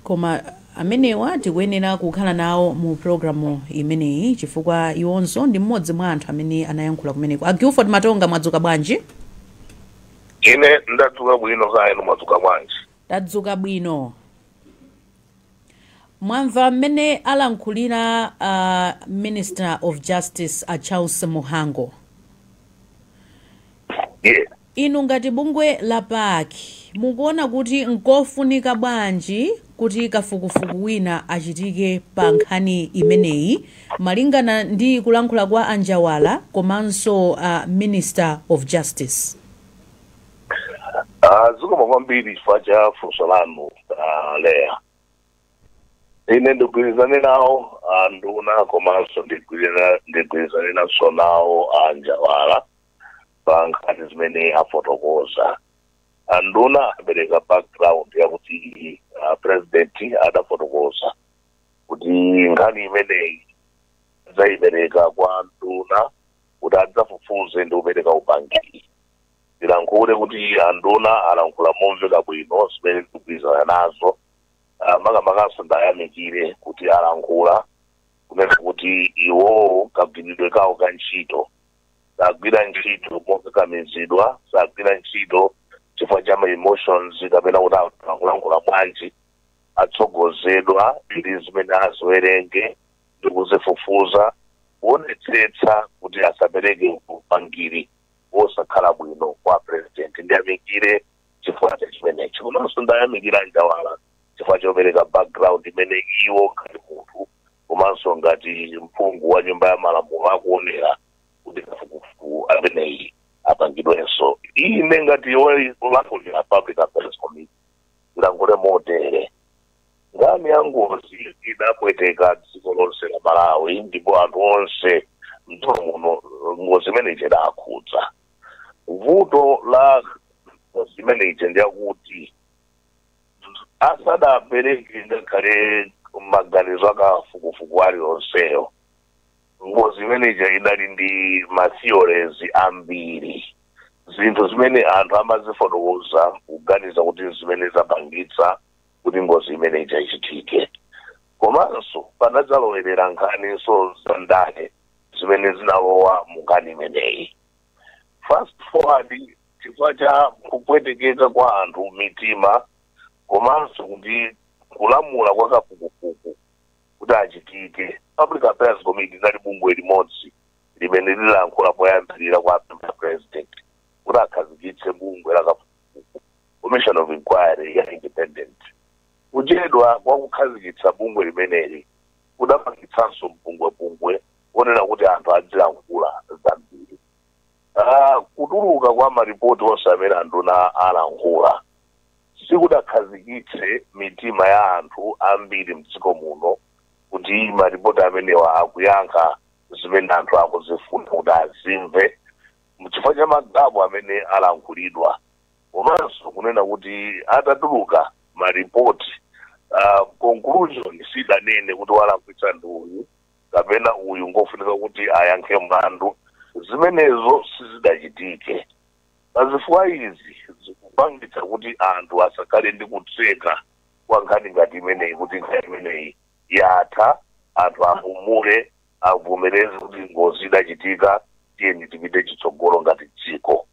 Koma amenewa tikuyenera kukhala nawo mu programme imeneyi chifukwa iwonso ndi mmodzi mwa anthu amene anayankhula kumeneko. A Guilford Matonga mwadzuka bwanji? Ine ndadzuka bwino kaya inu mwadzuka bwanji? Tadzuka bwino. Mwamva mmene alankhulira a Minister of Justice a Charles Muhango? Yeah. Inu ngati bungwe la PAC mukuona kuti nkofunika bwanji kuti kafukufuku wina achitike pa nkhani imeneyi malingana ndi kulankhula kwa a Njawala komanso a Minister of Justice? Ah, zikomo kwambiri chifukwa cha funso lanu ah, Leah. Ine ndigwirizane nawo anduna komanso ndigwirira- ndigwirizanenanso nawo a Njawala pa nkhani zimenezi afotokoza anduna apereka background yakuti a president adafotokoza kuti nkhani imeneyi adzayipereka kwa anduna kuti adzafufuze ndi kupereka upangiri ndilankhule kuti anduna alankhula momveka bwino zimene ndikugwirizana nazo Ah, makamakanso ndiyamikire kuti alankhula kunena kuti iwowo kagwiridwe kawo ka ntchito sagwira ntchito mokakamizidwa sagwira ntchito chifukwa cha ma emotions kapena kuti anthu akulankhula bwanji atsogozedwa ndi zimene aziwerenge ndi kuzifufuza kuonetsetsa kuti asapereke upangiri wosakhala bwino kwa president ndiyamikire chifukwa cha chimenecho komanso ndiyamikire a Njawala chifukwa chopereka background imene iwo ngati munthu komanso ngati mphungu wa nyumba ya malamulo akuonera kuti kafukufuku ameneyi apangidwenso ine ngati wolankhulira public affairs committee ndilankhule motere nkhani ya ngozi idapweteka dziko lonse la malawi ndipo anthu onse mdziko muno ngozi imene ija idawakhudza vuto la ngozi imene ija ndi lakuti asadapereke ngakhale maganizo akafukufuku alionseyo ngozi imene ija idali ndi matheories ambiri zinthu zimene anthu amazifotokoza kuganiza kuti zimene zapangitsa kuti ngozi imene ija ichitike komanso panadzalowerera nkhaninso za ndale zimene zinalowa mu nkhani imeneyi fast forward chifukwa cha kupwetekeka kwa anthu mitima komanso kuti kulamula kwa kafukufuku kuti achitike public affairs committee inali bungwe limodzi limene lilankhula poyambirira kuwapempha president kuti akhazikitse bungwe la kafukufuku commission of inquiry ya independent kuchedwa kwa kukhazikitsa bungwe limeneli kudapangitsanso mpungwepungwe onena kuti anthu adzilankhula zambiri Kutuluka kwa maripoti onse amene anduna alankhula sikudakhazikitse mitima ya anthu ambiri m'dziko muno kuti maripoti amenewa akuyankha zimene anthu akuzifuna kuti azimve chifukwa cha magapu amene alankhulidwa komanso kunena kuti atatuluka maripoti uh, conclusion sidanene kuti walakwitsa ndi uyu kapena uyu ngofunika kuti ayankhe mlandu zimenezo sizidachitike pazifukwa izi zikupangitsa kuti anthu asakhale ndi kutseka kwa nkhani ngati imeneyi kuti nkhani imeneyi yatha anthu apumule avomereze kuti ngozi idachitika tiyeni tipite chitsogolo ngati dziko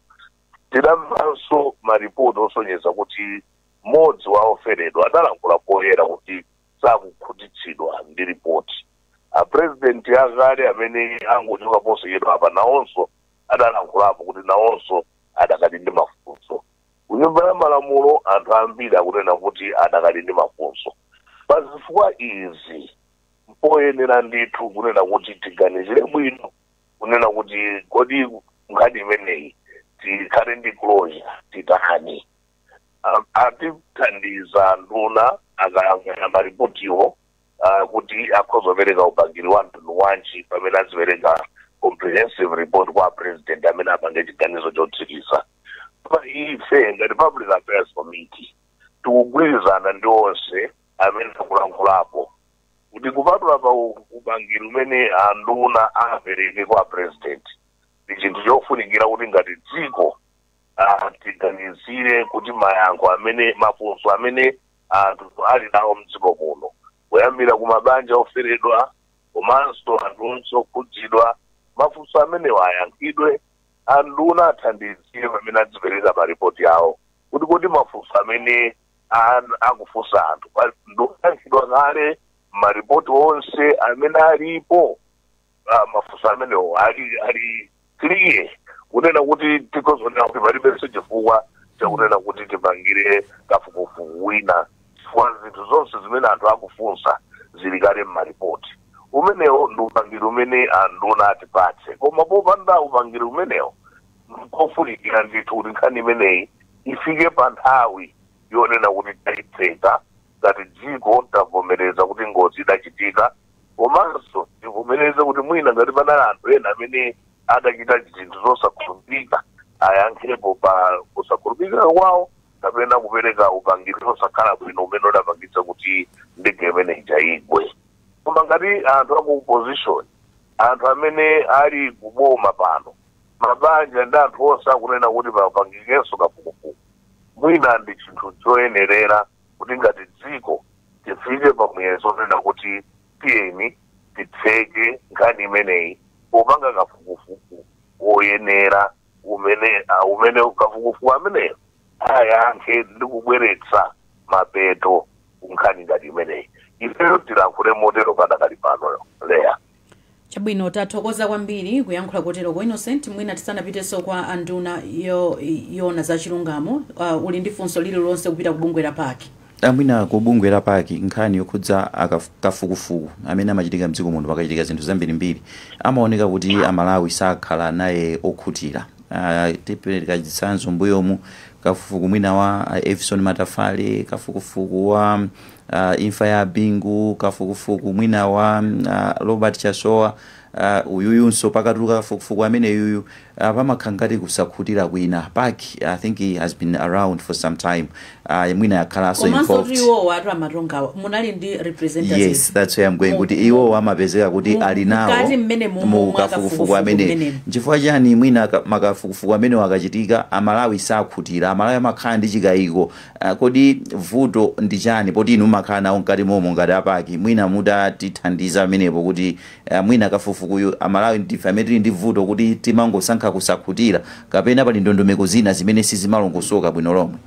tidamvanso maripoti osonyeza kuti mmodzi wa oferedwa adalankhula poyera kuti sakukhutitsidwa ndi ripoti apurezidenti akale amene angochoka posachedwa apa nawonso adalankhulapo kuti nawonso adakali ndi mafunso kunyumba ya malamulo anthu ambiri akunena kuti adakali ndi mafunso pa zifukwa izi mpoyenera ndithu kunena kuti tiganizire bwino kunena kuti kodi nkhani imeneyi tikhale ndi closure titani atithandiza anduna akayang'ana maripotiwo ah, kuti akhoza kupereka upangiri wa mtundu wanji pamene azipereka comprehensive report kwa president amene apange chiganizo chotsiriza pa ife ngati public affairs committee tikugwirizana ndi onse amene akulankhulapo kuti kupatula pa u- upangiri umene anduna apereke kwa president ndi chinthu chofunikira kuti ngati dziko ah, tiganizire kuti mayankho amene mafunso amene anthu ali nawo mdziko muno kuyambira ku mabanja oferedwa komanso anthu onse okhudzidwa mafunso amenewa ayankhidwe anduna athandizire pamene adzipereka maripoti awo kuti kodi mafunso amene an- akufunsa anthu pa- ndi oyankhidwa kale maripoti onse amene alipo ah, mafunso amenewo ali ali clear kunena kuti tikhoza kunena kuti palibenso chifukwa chakunena kuti tipangire kafukufuku wina chifukwa zinthu zonse zimene anthu akufunsa zili kale mmaripoti umenewo ndi upangiri umene anduna atipatse koma popanda upangiri umenewo mkofunikira ndithu kuti nkhani imeneyi ifike pa nthawi yonena kuti taitseka ngati dziko tavomereza kuti ngozi idachitika Komanso tivomereze kuti mwina ngati panali anthu ena amene adachita zinthu zosakhulupirika ayankhepo pa kusakhulupirika kwawo kapena kupereka upangiri osakhala bwino umene udapangitsa kuti ndege imene ija igwe koma ngati anthu aku opposition anthu amene ali kuboma pano mabanja ndi anthu onse akunena kuti papangikenso kafukufuku mwina ndi chinthu choyenerera kuti ngati dziko tifike pa muyezo onena kuti tiyeni titseke nkhani imeneyi popanga kafukufuku woyenera umene ah, umene kafukufuku ameneyo ayankhe ndi kubweretsa mapeto ku nkhani ngati imeneyi ifeyo tilankhule motero padakali pano Leya Chabwino, tathokoza kwambiri kuyankhula kotero kwa Innocent, mwina tisanapitenso kwa a nduna yo, yoona za chilungamo, a, uli ndi funso lililonse kupita ku bungwe la pac? A, mwina ku bungwe la pac nkhani yokhudza a kafu, kafukufuku amene amachitika mdziko muno pakachitika zinthu zambirimbiri amaoneka kuti a Malawi sakhala naye okhutira, a, tipereka chitsanzo mmbuyomu kafufuku mwina wa a Evison Matafale, kafukufuku wa. uh, imfa ya Bingu, kafukufuku mwina wa uh, Robert Chasowa uh, uyuyunso pakatuluka kafukufuku amene yuyu uh, pamakhala ngati kusakhutira kwina pac I think it has been around for some time uh, mwina yakhalanso komanso kuti involved iwowo atu amatongawa munali ndi representatives yes that's where I'm going kuti iwo amapezeka kuti mu- ali nawo mkati mmene mu- mu mu kafukufuku kafukufuku amene mmenemo. nchifukwa chani mwina ka- makafukufuku amenewa akachitika amalawi sakhutira amalawi amakhala ndi chikayiko Aaa kodi vuto ndi chani poti inu mmakhala nawo mkati momo ngati a pac mwina mutatithandiza pamenepo kuti aah mwina kafufukuyu amalawi ndife amene tili ndi vuto kuti timangosankha kusakhutira kapena pali ndondomeko zina zimene sizimalongosoka bwino lomwe.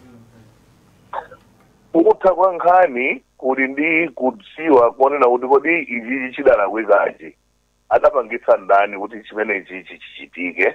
Kutha kwa nkhani kuli ndi kudziwa konena kuti kodi ichichi chidalakwikachi adapangitsa ndani kuti chimenechichi chichitike.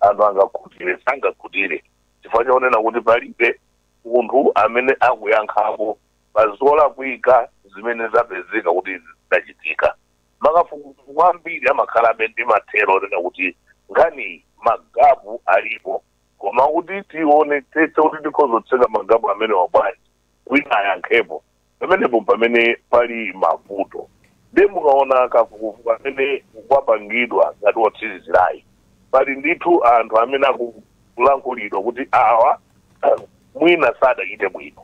anthu angakhutire sangakhutire chifukwa chonena kuti palibe munthu amene akuyankhapo pa zolakwika zimene zapezeka kuti zidachitika makafukufuku ambiri amakhalabe ndi mathero onena kuti nkhani magapu alipo koma kuti tionetsetse kuti tikhozotseka magapu amenewa bwanji wina ayankhepo pamenepo pamene pali mavuto ndiye mukaona kafukufuku amene wapangidwa ngati wotsirizirayi pali ndithu anthu amene akulankhulidwa kuti awa mwina sadachite bwino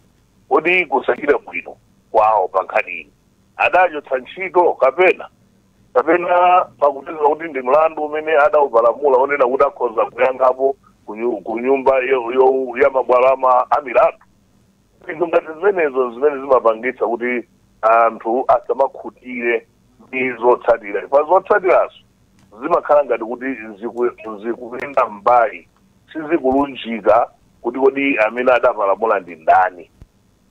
kodi kusachita bwino kwawo pa nkhani iyi adachotsedwa ntchito kapena kapena pakupeza kuti ndi mlandu umene adaupalamula onena kuti akhoza kuyankhapo kunyu- kunyumba yo- yo- ya mabwalo ama- a milandu zinthu ngati zimenezo zimene zimapangitsa kuti anthu asamakhutire ndi zotsatira chifukwa zotsatirazo zimakhala ngati kuti ziku- zikuyenda mbali sizikulunjika kuti kodi amene adapalamula ndi ndani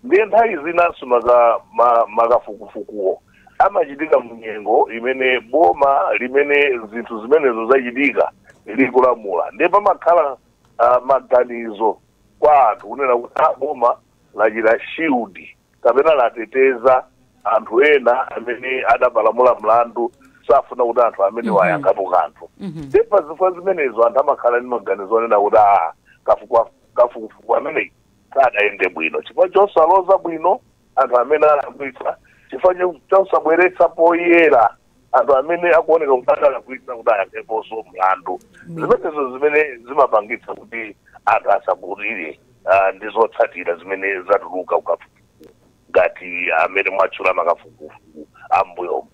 ndiye nthawi zinanso maka- ma- makafukufukuwo amachitika mnyengo imene boma limene zinthu zimenezo zachitika likulamula ndiye pamakhala ah, maganizo kwa anthu kunena kuti "Ah, boma lachita shield kapena lateteza anthu ena amene adapalamula mlandu safuna kuti anthu amenewa ayankhepo kanthu nde pa zifukwa zimenezo anthu amakhala ndi maganizo onena kuti "Ah, kafukwa- kafukufuku ameneyi sadayende bwino chifukwa chosaloza bwino anthu amene alakwitsa chifukwa cho- chosabweretsa poyera anthu amene akuoneka kuti adalakwitsa kuti ayankheponso mlandu zimenezo zimene zimapangitsa kuti anthu asakhutire ah, ndi zotsatira zimene zatuluka kukafukufuku ngati amene mwatchula makafukufuku ambuyomu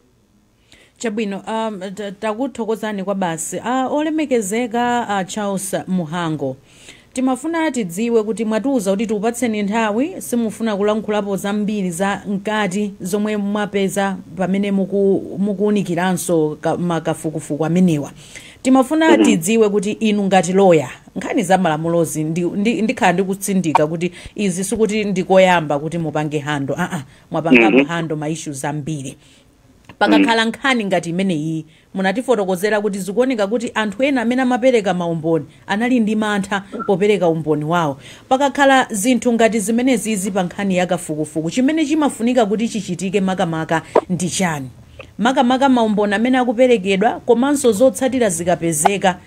chabwino um, ta- takuthokozani kwabasi uh, olemekezeka uh, charles mhango Timafuna tidziwe kuti mwatiuza kuti tikupatseni nthawi, simufuna kulankhulapo zambiri za mkati zomwe mwapeza pamene muku mukuunikiranso ka ma kafukufuku amenewa. Timafuna tidziwe kuti inu ngati lawyer, nkhani za malamulozi ndi ndi ndikhala ndikutsindika kuti izi sikuti ndi koyamba kuti mupange handle aa mwapangapo Mhm. handle ma issues ambiri. pakakhala nkhani ngati imeneyi munatifotokozera kuti zikuoneka kuti anthu ena amene amapereka maumboni anali ndi mantha popereka umboni wawo pakakhala zinthu ngati zimenezizi pa nkhani ya kafukufuku chimene chimafunika kuti chichitike makamaka ndi chani makamaka maumboni amene akuperekedwa komanso zotsatira zikapezeka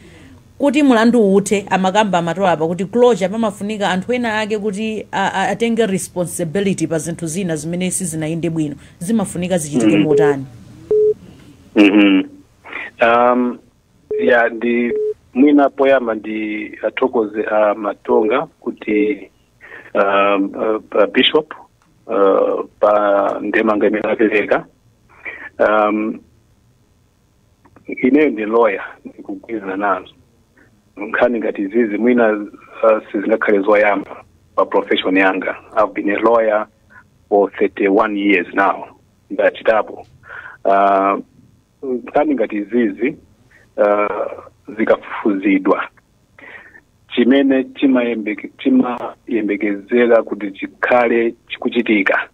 Kuti mulanduwu uthe, amakamba a Matonga apa kuti closure pamafunika anthu ena ake kuti a a atenge responsibility pa zinthu zina zimene sizinayende bwino. Zimafunika zichitike Mhm. motani? Mhm. Um, ya ndi mwina poyamba ndiwathokoze a matonga kuti um, uh, pa bishop uh, pa ndemanga imene apereka um, ineyo ndi lawyer ndikugwirizana nazo nkhani ngati izizi mwina uh, sizingakhale zoyamba pa profession yanga i've been a lawyer for 31 years now ndachitapo uh, nkhani ngati izizi uh, zikafufuzidwa chimene chimayembeke- chimayembekezera kuti chikhale chikuchitika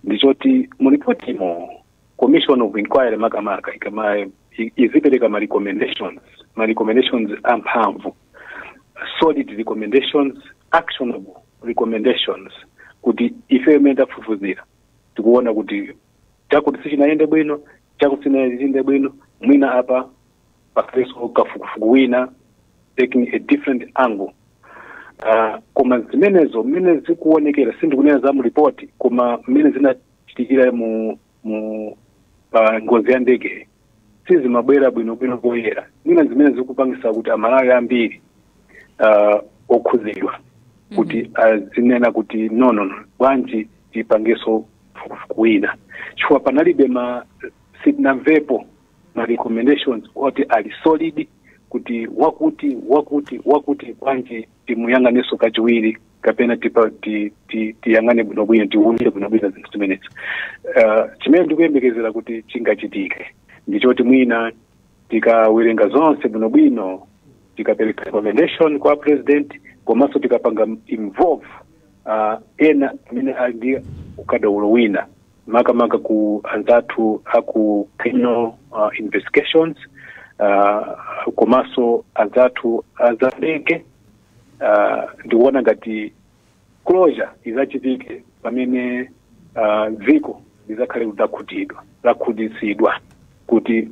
ndichoti mu report imo commission of inquiry makamaka ikama i- izipereka ma recommendations ma recommendations amphamvu solid recommendations actionable recommendations kuti ife mmene tafufuzira tikuona kuti chakuti sichinayende bwino chakuti sichinayende bwino mwina apa pakhaleso kafukufuku wina taking a different angle Ah, koma zimenezo mmene zikuonekera sindikunena za mu report koma mmene zina- chitikira mu mu pa ngozi ya ndegeyi sizimabwera bwinobwino poyera mwina zimene zikupangisa kuti amalawi ambiri uh, okhuzidwa kuti azinena kuti no no no bwanji tipangeso fukufuku wina chifukwa panalibe ma sitinamvepo ma recommendations oti ali solid kuti wakuti wakuti wakuti bwanji timuyang'aneso kachiwiri kapena tipa- ti- ti- tiyang'ane bwinobwino tiwunire bwinobwino zinthu zimenezi uh, chimene ndikuyembekezera kuti chingachitike ndichoti mwina tikawerenga zonse bwinobwino tikapereka recommendation kwa president komanso tikapanga involve uh, ena amene ali ndi ukadaulo wina makamaka ku anzathu aku criminal uh, investigations uh, komanso anzathu azandege uh, ndikuona ngati closure izachitike pamene uh, dziko lizakhale kuti lakhutitsidwa kuti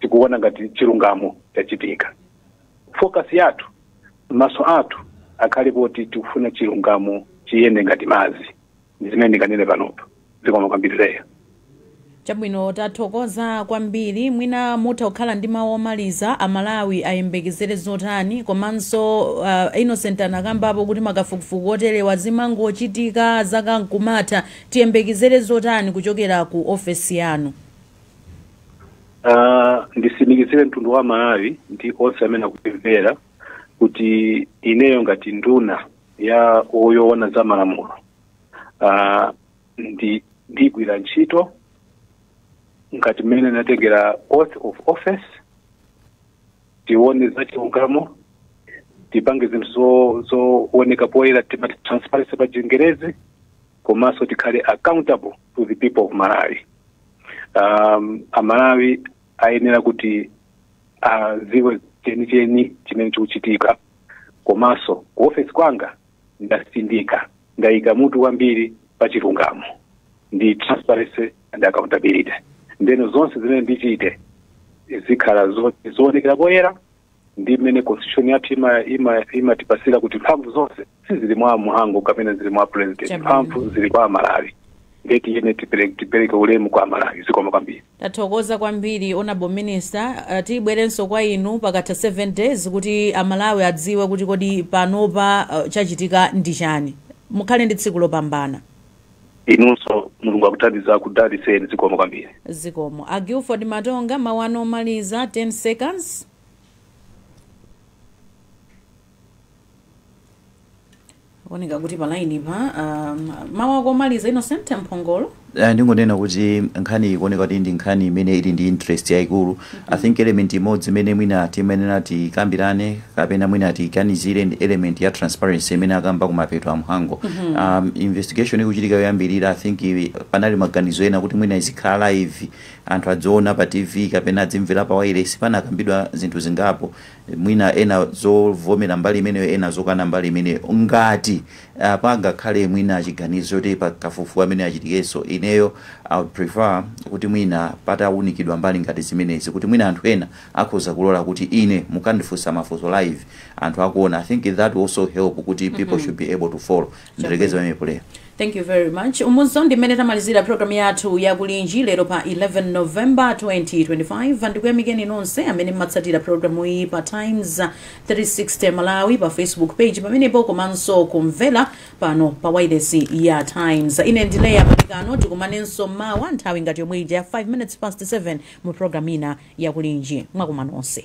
tikuona ngati chilungamo chachitika focus yathu maso athu akhale poti tikufuna chilungamo chiyende ngati madzi ndi zimene ndinganene panopo zikomo kwambiri leya chabwino tathokoza kwambiri mwina mutha kukhala ndi mawu omaliza amalawi ayembekezere zotani komanso uh, innocent anakambapo kuti makafukufuku oterewa zimangochitika zaka nkumatha tiyembekezere zotani kuchokera ku ofesi yanu Ah, ndisimikizire mtundu wa malawi ndi onse amene akutimvera kuti ineyo ngati nduna ya yoona za malamulo uh, ndi ndigwira ntchito ngati mmene natengera oath of office tione za chilungamo tipange zinthu zo- zooneka poyera timati transparency pa chingerezi komanso tikhale accountable to the people of malawi um, amalawi ayenera kuti aziwe chenicheni chimene chikuchitika komanso ku ofesi kwanga ndasindika ndayika mutu kwambiri pa chilungamo ndi transparency and accountability ndeno zonse zimene ndichite zikhala zo- zoonekera poyera ndi mmene constitution yathu ima- ima- imatipasira kuti mphamvu zonse sizili mwa mhango kapena zili mwa president Chabwino. mphamvu zili kwa amalawi ndiye tiyene tipere- tipereke ulemu kwa amalawi zikomo kwambiri tathokoza kwambiri honorable minister uh, tibwerenso kwa inu pakatha 7 days kuti amalawi adziwe kuti kodi panopa uh, chachitika ndi chani mukhale ndi tsiku lopambana inunso mulungu akuthandiza akudaliseni zikomo kwambiri zikomo a gilford matonga mawu anu omaliza 10 seconds kuoneka kuti pa line pa um, mawu ako omaliza innocent mphongolo Ah, ndingonena kuti nkhani ikuoneka kuti ndi nkhani imene ili ndi interest yayikulu i think element imodzi imene mwina timayenera tikambirane kapena mwina tiganizire ndi element ya transparency imene akamba kumapeto a mhango um, investigation ikuchitika yoyambirira i think i- panali maganizo ena kuti mwina izikhala live anthu adziona pa tv kapena adzimvera pa wailesi panakambidwa zinthu zingapo mwina ena zovomera mbali imeneyo ena zokana mbali imeneyo ngati uh, pangakhale mwina chiganizo choti pa kafukufuku amene achitikenso ineyo I would prefer kuti mwina patawunikidwa mbali ngati zimenezi kuti mwina anthu ena akhoza kulola kuti ine mukandifunsa mafunso live anthu akuona i think that will also help kuti people should be able to follow ndirekeze pamenepo leah thank you very much umunso ndi mmene tamalizira programu yathu ya kulinji lero pa 11 november 2025 ndikuyamikeni nonse amene mmatsatira programu iyi pa times 360 malawi pa facebook page pamenepo komanso kumvera pano pa wailesi ya times ine ndi leah malekano tikumanenso mawa nthawi ngati yomwe ija 5 minutes past 7 mu programu ina ya kulinji mwakoma nonse